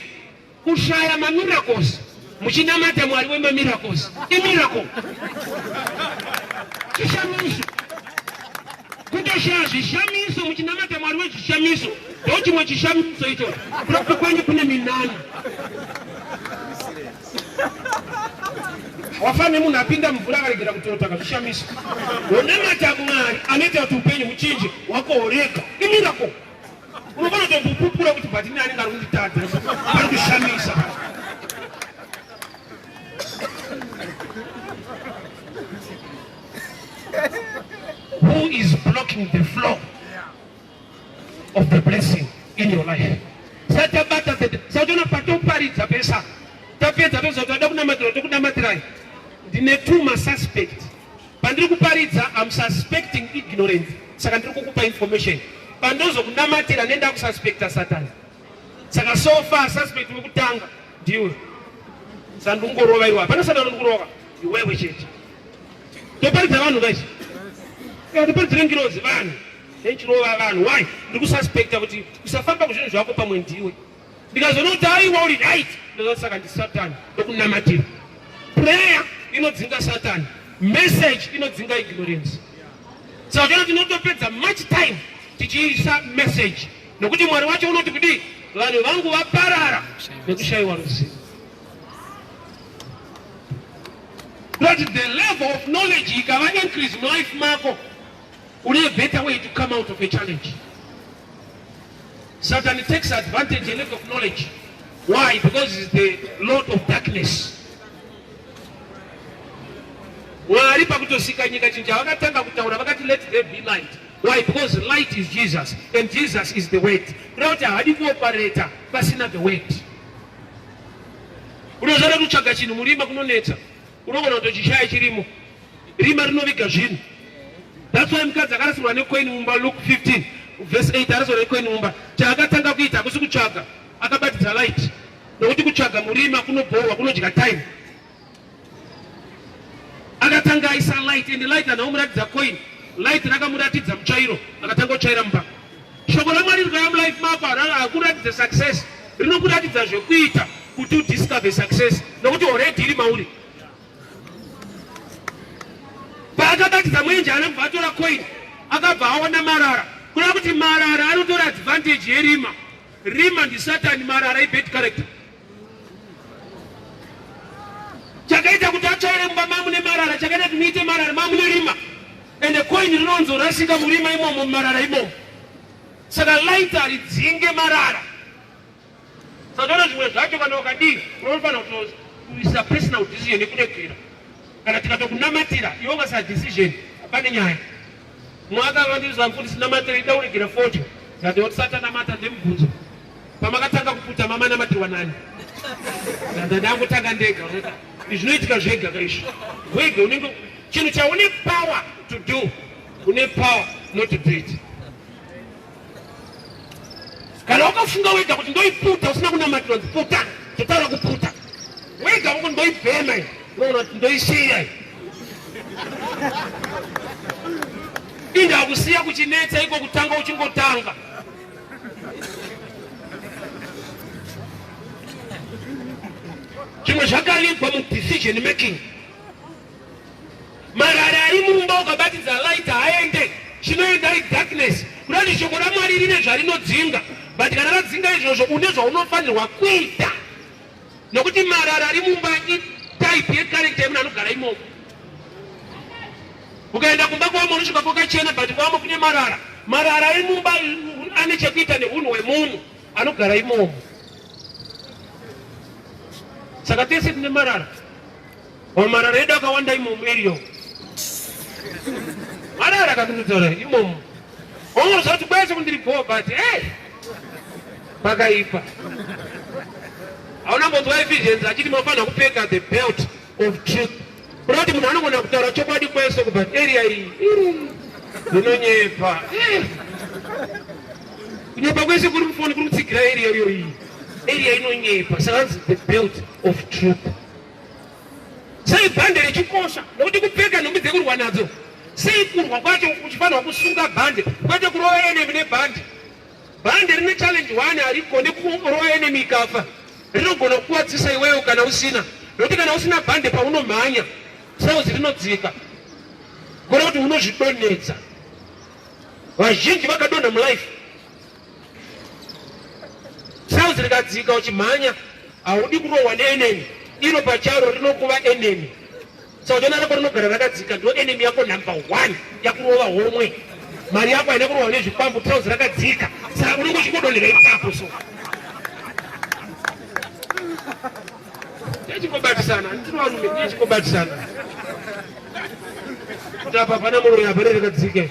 Kushaya mamiracles muchinamata mwari wemamiracles imiracle chishamiso kutoshaya zvishamiso muchinamata mwari wezvishamiso ndo chimwe chishamiso icho kuropa kwenyu kune minana wafa nemunhu apinda mvura akaregera kutota kazvishamiso wonamata mwari anoita kuti upenyu huchinje wakohoreka imirako unofanira kutopupura kuti but ini anenge ari kunditadza ari kushamisa who is blocking the flow of the blessing in your life satabata saona patoparidza pesa tapedza tozotoda kunamatira tokunamatirai ndine two masuspect Pandiri kuparidza I'm suspecting ignorance saka ndiri kukupa information pandozokunamatira nenda kususpecta Satan saka so far suspect wekutanga ndiwe sandungorova iwe hapana Satan undikurova iwewe chete toparidza vanhu guys ndiparidzire ngirozi vanhu nechirova vanhu why ndiri kususpecta kuti usafamba kuzvinhu zvako pamwe ndiwe ndikazoona kuti aiwa uri right ndozati saka ndisatani ndokunamatira prayer inodzinga satani message inodzinga ignorance saka kana tinotopedza much time tichiisa message nokuti mwari wacho unoti kudii vanhu vangu vaparara nekushayiwa ruzivo but the level of knowledge ikava increase mulife mako Kune better way to come out of a challenge. Satan takes advantage a lack of knowledge. Why? Because it's the lord of darkness. Wari pakutosika nyika chinja vakatanga kutaura vakati let there be light. Why? Because light is Jesus and Jesus is the word. Kuda kuti haadi kuopareta pasina the word. Unozvada kutsvaga chinhu murima kunonetsa. Unogona kutochishaya chirimo. Rima rinoviga zvinhu. That's why mukadzi akarasirwa necoin mumba Luke 15 verse 8 arasirwa necoin mumba. Chaakatanga kuita hakusi kutsvaga, akabatidza light. Nokuti kutsvaga murima kunobhohwa, kunodya time. Akatanga aisa light and light anaomuratidza coin. Light rakamuratidza muchairo, akatanga kuchaira mumba. Shoko raMwari rikaam life mako hakuratidza success, rinokuratidza zvekuita kuti udiscover success nokuti already iri mauri. Paakabatidza mwenje anobva atora coin akabva aona marara kureva kuti marara anotora advantage yerima. Rima ndisatani, marara ibad character. chakaita kuti atsvaire mumba mamune marara chakaita kuti muite marara mamune rima ende koini rinonzorasika murima imomo mumarara imomo saka laita ridzinge marara saka zvimwe zvacho kana wakadii unofanira kuisa personal decision yekuregera kana tikada kunamatira iwo basa decision pane nyaya mwaka vandiza kuti sinamatira idauregera foto ndati oti satanamata ndemubvunzo pamakatanga kuputa mama namatirwa nani ndandangotanga ndega zvinoitika zvega kaizvi wega unenge chinhu chaune power to do une power not to do it kana wakafunga wega kuti ndoiputa usina kunamatira kuti puta totaura kuputa wega wako ndoibhema unoona kuti ndoisiya indakusiya kuchinetsa iko kutanga uchingotanga zvimwe zvakaribwa mudecision making Marara ari mumba ukabatidza light haaende, chinoenda ari darkness. Kudati shoko raMwari rine zvarinodzinga, but kana radzinga izvozvo une zvaunofanirwa kuita, nokuti marara ari mumba itype yecurrent yemunhu anogara imomo. Ukaenda kumba kwamo unosvika kwakachena, but kwamo kune marara. Marara ari mumba ane chekuita neunhu hwemunhu anogara imomo. Saka tese tine marara. Or marara edu akawanda imomu area umu. Marara kakunditora imomu. Ongo zoti kwese kundiri bho but hey. Pakaipa. Hauna mbonzwa Ephesians achiti mafana kupfeka the belt of truth. Kurati munhu anogona kutaura chokwadi kwese kubva area iyi. Ndinonyepa. Eh. Kunyepa kwese kuri mufoni kuri kutsigira area iyo iyi. Area inonyepa. Saka the belt of truth. Sei bhande richikosha? Nokuti kupfeka nhumbi dzekurwa nadzo. Sei kurwa kwacho kuchifanirwa kusunga bhande kwete kurova enemy nebhande? Bhande rine challenge one harigone kurova enemy ikafa. Rinogona kukuwadzisa iweyo kana usina. Nokuti kana usina bhande paunomhanya sauzi rinodzika. Gona kuti unozvidonhedza. Vazhinji vakadonha mulife Sauzi rikadzika uchimhanya haudi kurohwa neeneni iro pacharo rinokuva enemy saudana rako rinogara rakadzika ndo enemy yako number one yakurova homwe mari yako haina kurova nezvikwambo trouse rakadzika saka unenge uchingodonhera ipapo so ndechingobatisana ndinovarume ndechingobatisana kuti apa pana muroyi apa rerekadzike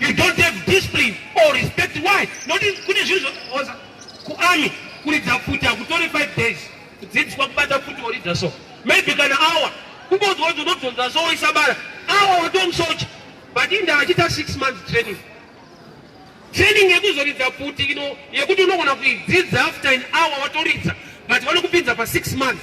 You don't have discipline or respect. Why? Not in kune zvinhu zvinozoza kuami kuridza pfuti hakutore 5 days kudzidziswa kubata pfuti woridza so maybe kana awa kungonzwa kuti unobvunza so woisa bara awa watomusocha but inda achita 6 months training training yekuzoridza pfuti ino yekuti unogona kuidzidza after an hour watoridza but vanokupinza pa 6 months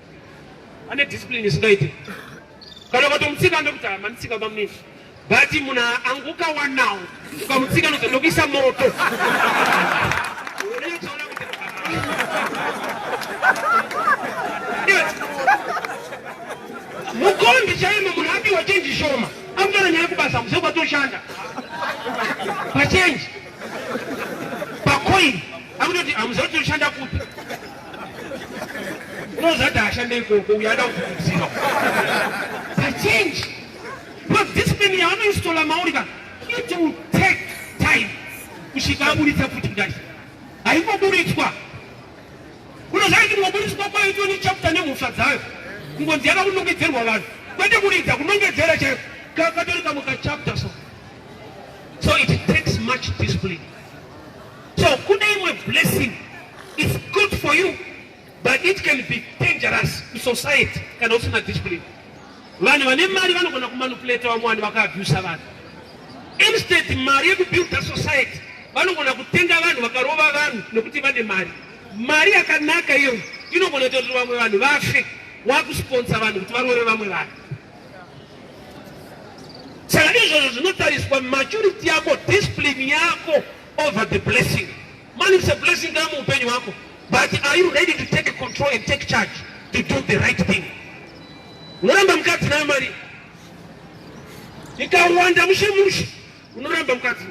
ane discipline isingaite kana ukatomutsika anokuti manitsika bamnini but munhu anguka wanawo ukamutsika noza ndokuisa moto mukombi chaimo munhu apiwa chenji shoma akutana nyaya kubasa muse kwatoshanda pachenji pakoini akutoti amuzotoshanda kupi unozati ashande ikoko uyo ada kukurudzira pachange because discipline yaanoistola mauri ka it will take time kusvika aburitsa futi kudati haingoburitswa unozati ndingoburitswa kwayo tione chapter nemhosva dzayo kungonzi yaka kunongedzerwa vanhu kwete kuridza kunongedzera chaiyo katori kamwe kachapter so so it takes much discipline So kune imwe blessing it's good for you but it can be dangerous to society kana usina discipline. Vanhu vane mari vanogona kumanipulate vamwe vanhu vakaabhusa vanhu. Instead mari yekubuilda society vanogona kutenga vanhu vakarova vanhu nekuti vane mari. Mari yakanaka iyoyo inogona kuita kuti vamwe vanhu vafe wakusponsa vanhu kuti varove vamwe vanhu. Saka izvozvo zvinotariswa maturity yako, discipline yako over the blessing. Man, it's a blessing kama upenyu wako. But are you ready to take control and take charge to do the right thing? Unoramba mukadzi nayo mari. Ikawanda mushe mushe. Unoramba mukadzi.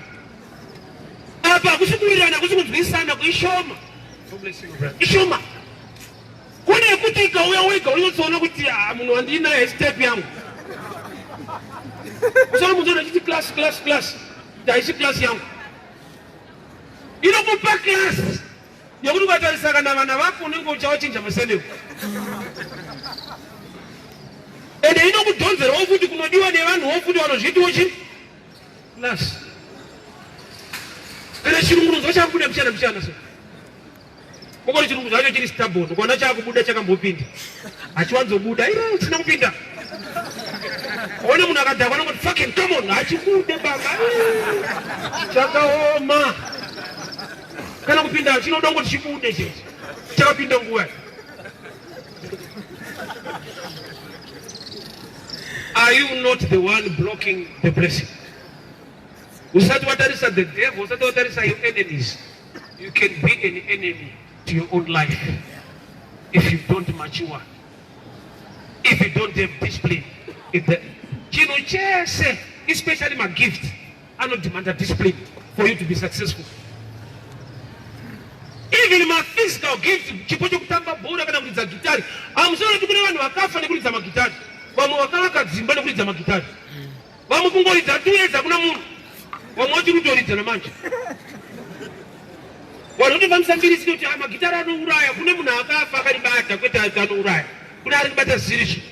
Apa hakusi kuwirirana, hakusi kunzwisana, kuishoma. Ishoma. Kune kuti ikauya wega unotsoona kuti ah, munhu wandinaye step yangu. Kusana muzoona chiti class class class. Ndaisi class yangu. Inokupa class yekuti ukatarisa kana vana vako unenge uchavachinja musendeko. Ende inokudhonzerawo futi kunodiwa nevanhuwo futi vanozviitiwo chii? Class. Kana chirungu unonzwa chakubuda mchana mchana so. Koko chirungu chacho chiri stubborn. Ukaona chakubuda chakambopinda. Achiwanzobuda. Iro china kupinda. Ona munhu akadhakwa anongoti fucking come on hachibude baba. Chakaoma. Kana kupinda chinoda kuti chibude chete. Chakapinda nguva. Are you not the one blocking the blessing? Usati watarisa the devil, usati watarisa your enemies. You can be an enemy to your own life if you don't mature. If you don't have discipline. If the chinhu chese especially magift anodemanda discipline for you to be successful. Even my physical gift chipo chekutamba bhora kana kuridza gitari amusoro kuti kune vanhu vakafa nekuridza magitari vamwe vakavaka dzimba nekuridza magitari Vamwe kungoridza tuedza kuna munhu. Vamwe vachiri kutoridza namanje. Vanhu votofambisa mbiri sike kuti ah, magitara anouraya kune munhu akafa akaribata kwete anouraya. Kune ari kubata zirishi.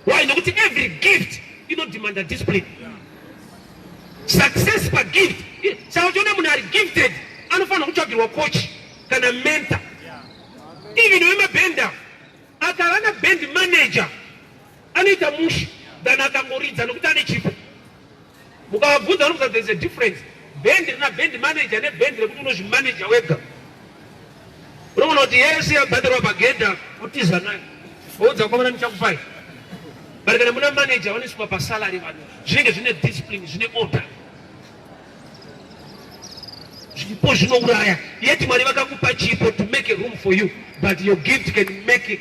Why? Nokuti every gift inodemanda discipline. Success per gift. Saka uchiona munhu ari gifted anofanira kutsvagirwa coach kana mentor. Even wemabhenda akava na band manager Anoita mushe than akangoridza nokuti ane chipo. Mukavabvunza vanobvunza there is a difference. Band rina band manager ne band rekuti unozvimanager wega. Unoona kuti yese yabhadharwa pagedha utiza nayo. Voudza kwamana ndichakupai. But kana muna manager vanosvika pasalary vanhu zvinenge zvine discipline zvine order. zvipo zvinouraya yet mwari vakakupa chipo to make a room for you but your gift can make it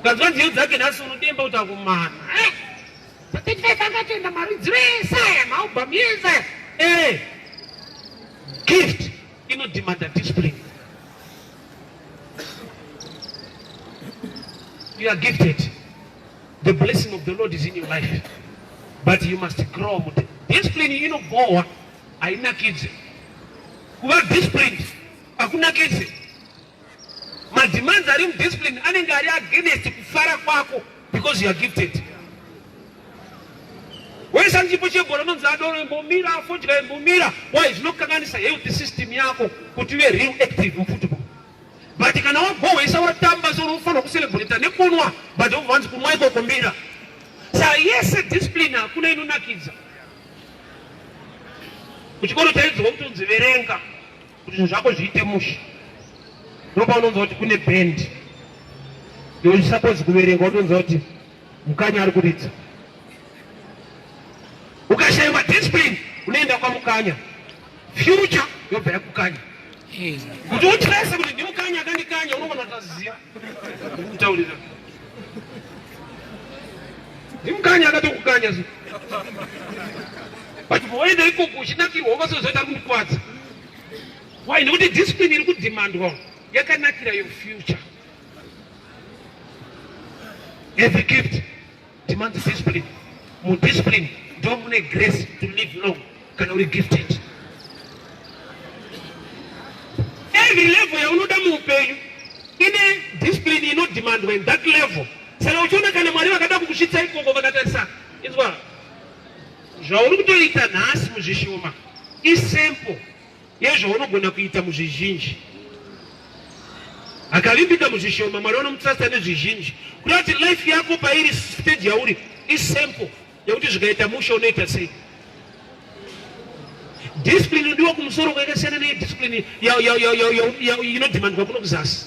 Ukanzwa nziyo dzake nhasi unodemba kuti akumana. Paketifaika akatoenda maridziro ese aya maubhamu ese aya. Eh. Gift inodemanda discipline. You are gifted. The blessing of the Lord is in your life. But you must grow with it. Discipline inobhowa hainakidze. Kuva disciplined hakunakidze. Mademands ari mudiscipline anenge ari against kufara kwako because you are gifted. Wesa chipo chebhora unonzi adoro imbomira afodya imbomira why zvinokanganisa health system yako kuti uve real active mufootball. But kana wagohwesa watamba so unofanira kucelebrate nekunwa but uvanzi kumwa ikoko mira. Sa yese discipline hakuna inonakidza. Kuchikoro taidzwa kutonzi verenga kuti zvinhu zvako zviite mushe ndopaunonzwa kuti kune band yousapose kuverenga utonzwa kuti mukanya ari kuridza ukashaiwa discipline unoenda kwamukanya future yobva yakukanya kuti utrese kuti ndimukanya akandikanya unogona kutaziva kutaurira ndimukanya akatokukanya so but voenda ikoko uchinakirwa ukasozoita kukwadza why nekuti discipline iri kudhimandwa yakanakira your future as a gift demands discipline mu discipline ndo mune grace to live long kana uri gifted every level yaunoda muupenyu ine discipline inodemandwa in that level saka uchiona kana mwari vakada kukusvitsa ikoko vakatarisa inzwa zvauri kutoita nhasi muzvishoma isempo Iye zvaunogona kuita muzvizhinji akavimbika muzvishoma mwari vanomutrasta nezvizhinji kuda kuti life yako pairi stage yauri isample yekuti zvikaita musha unoita sei discipline inodiwa kumusoro kwakasiyana nediscipline inodhimandwa kuno kuzasi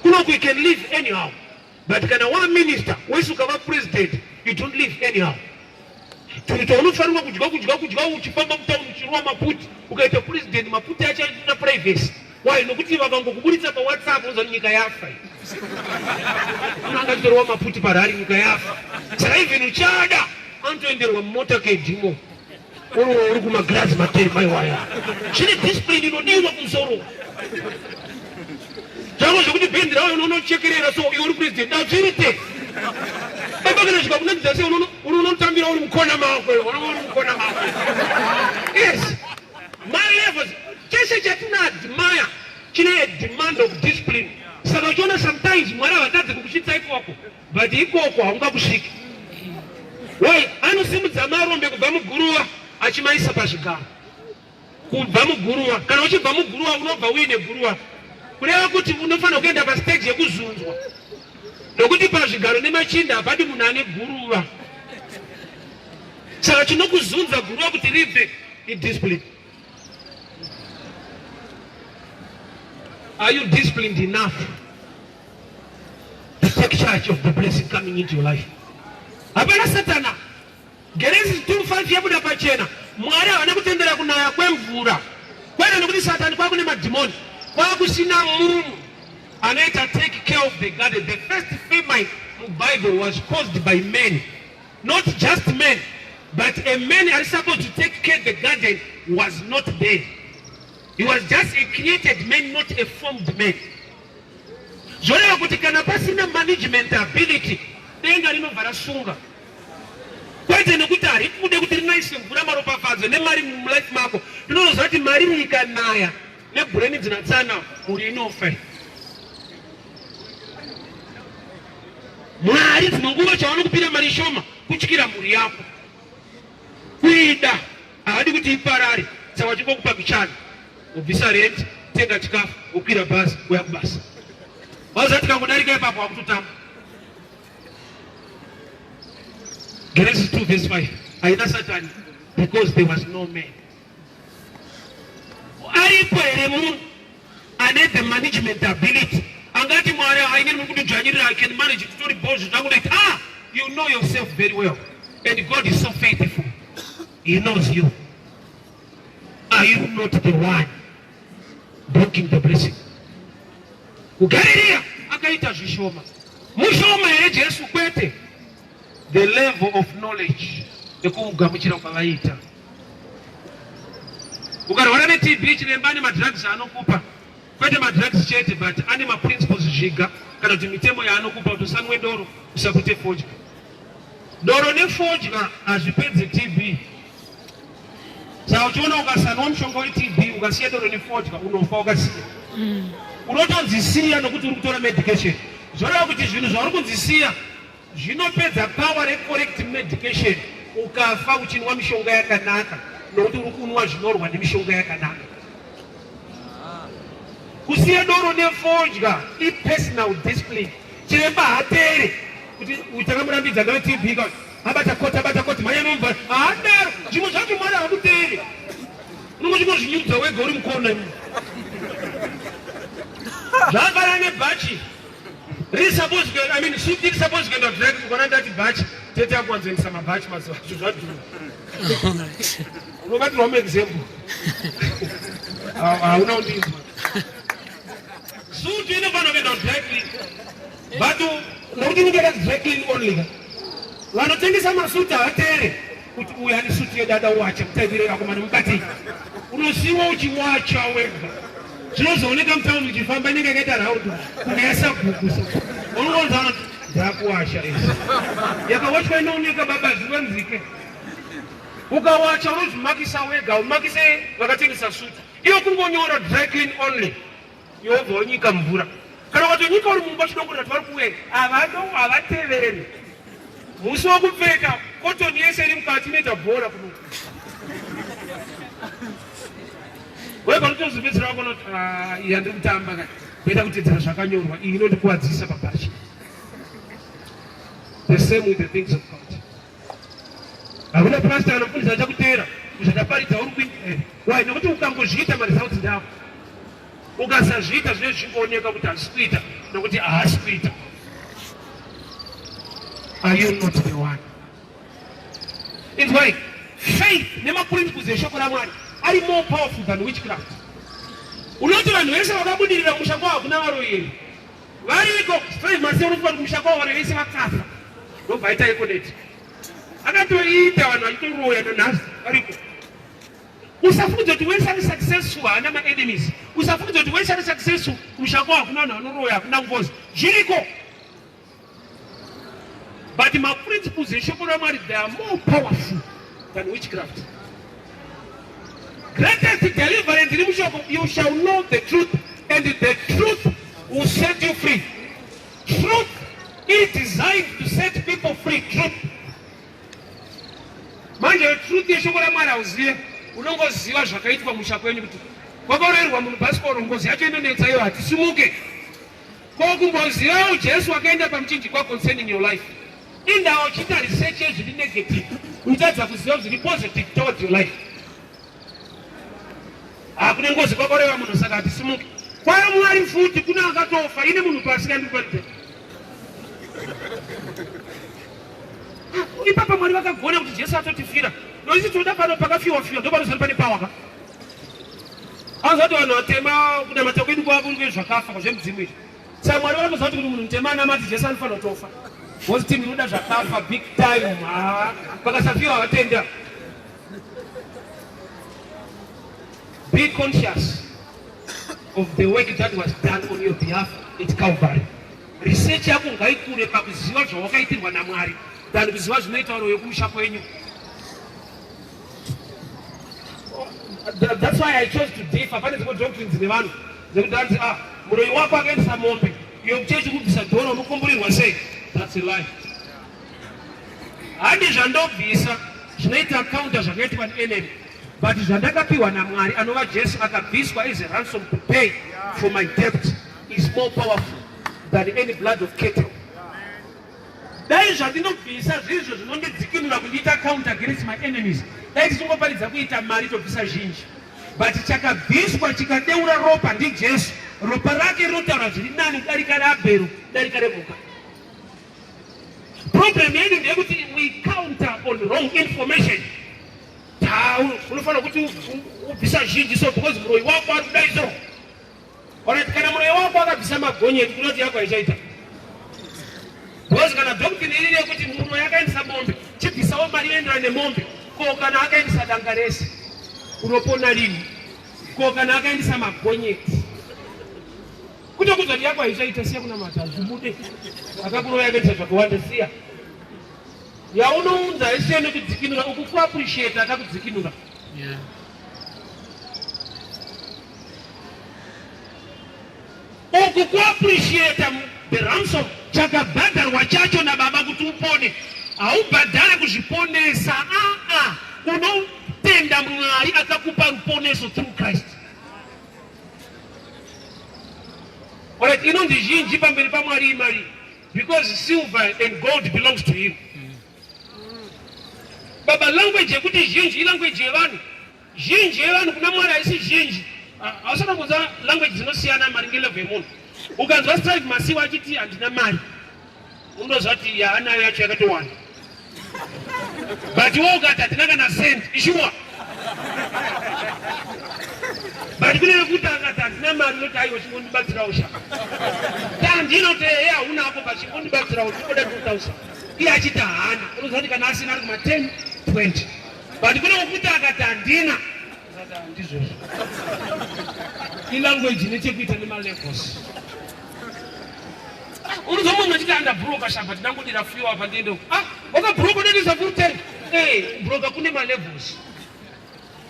kunoku you can live anyhow but kana wa minister wese ukava president you don't live anyhow turuta unofanirwa kudya kudya kudya uchifamba mutown uchirwa maputi ukaita president maputi achana privacy why nokuti vakangokuburitsa pawhatsapp uza nyika yafa angatorwa maputi parari nyika yafa saka even uchada anotoenderwa mumota kedhimo Oro uri kuma glass matei mai waya. Chine discipline inodiwa kumsoro. Jango zvekuti band rawo unono chekerera so iwe uri president dazviri te. Baba kana zvika kuna dzase unono unono tambira uri mukona mako iwe unono uri mukona mako. Yes. My levels chese chatina admire chine demand of discipline. Saka uchiona sometimes mwari havatadzi kukusvitsa ipo wako. but ikoko haungakusviki why anosimudza marombe kubva muguruva achimaisa pazvigaro kubva muguruva kana uchibva muguruva unobva uine guruva kureva kuti unofanira kuenda pastage yekuzunzwa nokuti pazvigaro nemachinda hapadi munhu ane guruva saka chinokuzunza guruva kuti ribve idiscipline are you disciplined enough take charge of the blessing coming into your life hapana satana genesis 25 yabuda pachena mwari havana kutendera kunaya kwemvura kwete nekuti satani kwakune madhimoni kwakusina munhu anoita take care of the garden the first famine mubible was caused by men not just men but a man ari supposed to take care the garden was not there he was just a created man not a formed man zvoreva kuti kana pasina management ability denga rinobva rasunga kwete nekuti hari kude kuti rinaise mvura maropafadzo nemari mulife mako rinonoziva kuti mari riikanaya nebhureni dzinatsana mhuri inofa mwari dzimwe nguva chavanokupira mari shoma kutyira mhuri yako kuida havadi kuti iparari saka vachingokupa kuchana Ubvisa rent, tenga chikafu, ukwira bhazi, uya kubasa. Wazati kangodarika ipapo wakutotama. Genesis 2 verse 5. Haina Satani because there was no man. Aripo here munhu ane the management ability angati mwari haine muri kundidzvanyirira i can manage kutori bozvo zvangu like ah you know yourself very well and god is so faithful he knows you Are you not the one blocking the blessing? Kugaririya akaita zvishoma mushoma here Jesu? Kwete, the level of knowledge yekugamuchira kwavaiita. Ukarwara neTB chiremba ane madrugs anokupa, kwete madrugs chete but ane maprinciples zviga kana kuti mitemo yaanokupa kuti usanwe doro, usapute fodya. Doro nefodya hazvipedze TB. Saka uchiona ukasanwa mushonga weTB ukasiya doro nefodya unofa ukasiya. Mm. Unotonzisiya nokuti uri kutora medication. Zvoreva kuti zvinhu zvauri kunzisiya zvinopedza power recorrect medication ukafa uchinwa mishonga yakanaka nokuti uri kunwa zvinorwa nemishonga yakanaka. Kusiya doro nefodya ipersonal discipline. Chiremba hatere kuti uchakamurambidza nawe TB abata koti abata koti mhanya nomva haadaro zvimwe zvacho mwari hakuteere unongozvingozvinyudza wega uri mukona imi zvakafanana nebhachi riri suppose kuenda i mean suit iri suppose kuenda drag kukona ndati bhachi tete akuwanzoendesa mabhachi mazuva acho zvadhura unobatirwa muexample hauna undinzwa suit inofanira kuenda drag But nokuti inenge yakati dry clean only ka. Vanotengesa masuti havateere kuti uyu ane suti yedada wacha kutaivire vakomana mukati. Unosiwa uchiwacha wega. Zvinozooneka mutauni uchifamba inenge yakaita round kunge yasabhuku so. Unongonza vanoti dzakuwasha izvi. Yakawachwa inooneka baba zuva nzike. Ukawacha unozvimakisa wega, umakise vakatengesa suti. Iyo kungonyora dry clean only. yobva wonyika mvura kana watonyika uri mumba chidoko ndati vari kuwe havano havatevereri musi wokupfeka kotoni yese iri mukati inoita bhora kuno we panotozopedzera wako noti ah, iya ndiri kutamba ka kuita kutedzera zvakanyorwa iyi inondikuwadzisa pabhachi the same with the things of god Hakuna pastor anofundisa achakuteera zvakaparidza uri kuita eh, why nokuti ukangozviita maresults ndavo ukasazviita zvine zvingooneka kuti hazvisi kuita nokuti haasi kuita are you not the one inzwai faith nemaprinciples eshoko ramwari ari more powerful than witchcraft unoti vanhu vese vakabudirira musha kwa hakuna varoyeri Variko straight masiya unofunga kuti musha kwavo vana vese vakafa ndobva aita ekoneti akatoita vanhu vachitoroya nanhasi variko usafunge kuti wese ari successful haana maenemies usafunge kuti wese ari successful kumusha kwavo hakuna vanhu vanoroya hakuna ngozi zviriko But maprinciples eshoko ramwari they are more powerful than witchcraft. Greatest deliverance iri mushoko, you shall know the truth and the truth will set you free. Truth is designed to set people free. Truth. Manje truth yeshoko ramwari hauzive, unongoziva zvakaitwa musha kwenyu kuti kwakaurayirwa munhu bhasikoro ngozi yacho inonetsa iyo hatisimuke Ko kumbozivawo Jesu wakaenda pamuchinjikwa concerning your life. Indawo uchiita research yezviri negative. Uchitadza kuziva zviri positive towards your life. Hakune ngozi kwakoreva munhu saka hatisimuke. Kwayo Mwari futi kuna akatofa ine munhu pasi kandikuparidza. Ipapa Mwari vakagona kuti Jesu atotifira. Noisi tinoda pano pakafiwa fiwa ndopanozari pane power ka. Azoti vanhu vatema kunamata kwedu kwava kuri kwezvakafa kwazvemudzimu izvi. Saka Mwari vanoziva kuti munhu mutema anamati Jesu anofanira kutofa. Ngozi team inoda zvakafa big time. Haa, vakasafiwa vatenda. Be conscious of the work that was done on your behalf at Calvary. Research yako ngaikure pakuziva zvawakaitirwa naMwari than kuziva zvinoita vanhu vekumusha kwenyu. That's why I chose to differ. Pane dzimwe doctrines nevanhu dzekuti hanzi ah muroyi wako akaendesa mombe iyo kuchechi kubvisa dhora unokomborerwa sei? That's a lie. Handi zvandobvisa zvinoita counter zvakaitwa neNM but zvandakapiwa naMwari anova Jesu akabviswa as a ransom to pay for my debt is more powerful than any blood of cattle. Dai zvandinobvisa zvirizvo zvinondidzikinura kundiita count against my enemies, dai tisingoparidza kuita mari tobvisa zhinji. But chakabviswa chikadeura ropa ndiJesu. Ropa rake rinotaura zviri nani kudarika raAbhero, kudarika remhuka. Problem yedu ndeyekuti we counter on wrong information. Unofanira kuti ubvisa zhinji so because muroyi wako ari kudai so. Alright, kana muroyi wako akabvisa magonyeti kuda kuti yako haichaita because kana doctrine iri rekuti muroyi akaendesa mombe chibvisawo mari yoenderana nemombe ko kana akaendesa danga rese unopona lini ko kana akaendesa magonyeti kuto kuza kuti yako haichaita siya kunamata hazvibude akakuroya akaita zvakawanda siya yaunounza haisiya nekudzikinura ukukuappreciate akakudzikinura yeah. uku kuappreciate the ransom chakabhadharwa chacho nababa kuti upone haubhadhare kuzviponesa aa unotenda mwari akakupa ruponeso through christ orit inonzi zhinji pamberi pamwari imari because silver and gold belongs to him baba language yekuti zhinji ilanguage yevanhu Zhinji yevanhu kuna Mwari haisi zhinji. Hausati wambonzwa language dzinosiyana maringe level yemunhu. Ukanzwa Strive Masiwa achiti handina mari, unonzwa kuti yaanayo yacho yakatowanda. But iwe ukati hatina kana cent, ishuwa. But kune vekuti akati handina mari unoti aiwa chingondibatsirawo sha. Tandino kuti ehe hauna hapo but chingondibatsirawo chingoda 2000. Iye achiti haana, unonzwa kuti kana asina ari kuma 10, 20. but kune wekuti akati handina ndizvozvo ilanguage ine chekuita nemalevels unozo munhu achiti andabhuroka shamba tinangodira fio apa ndiende ah wakabhuroka unendiza kuruteni ee eh, bhuroka kune malevels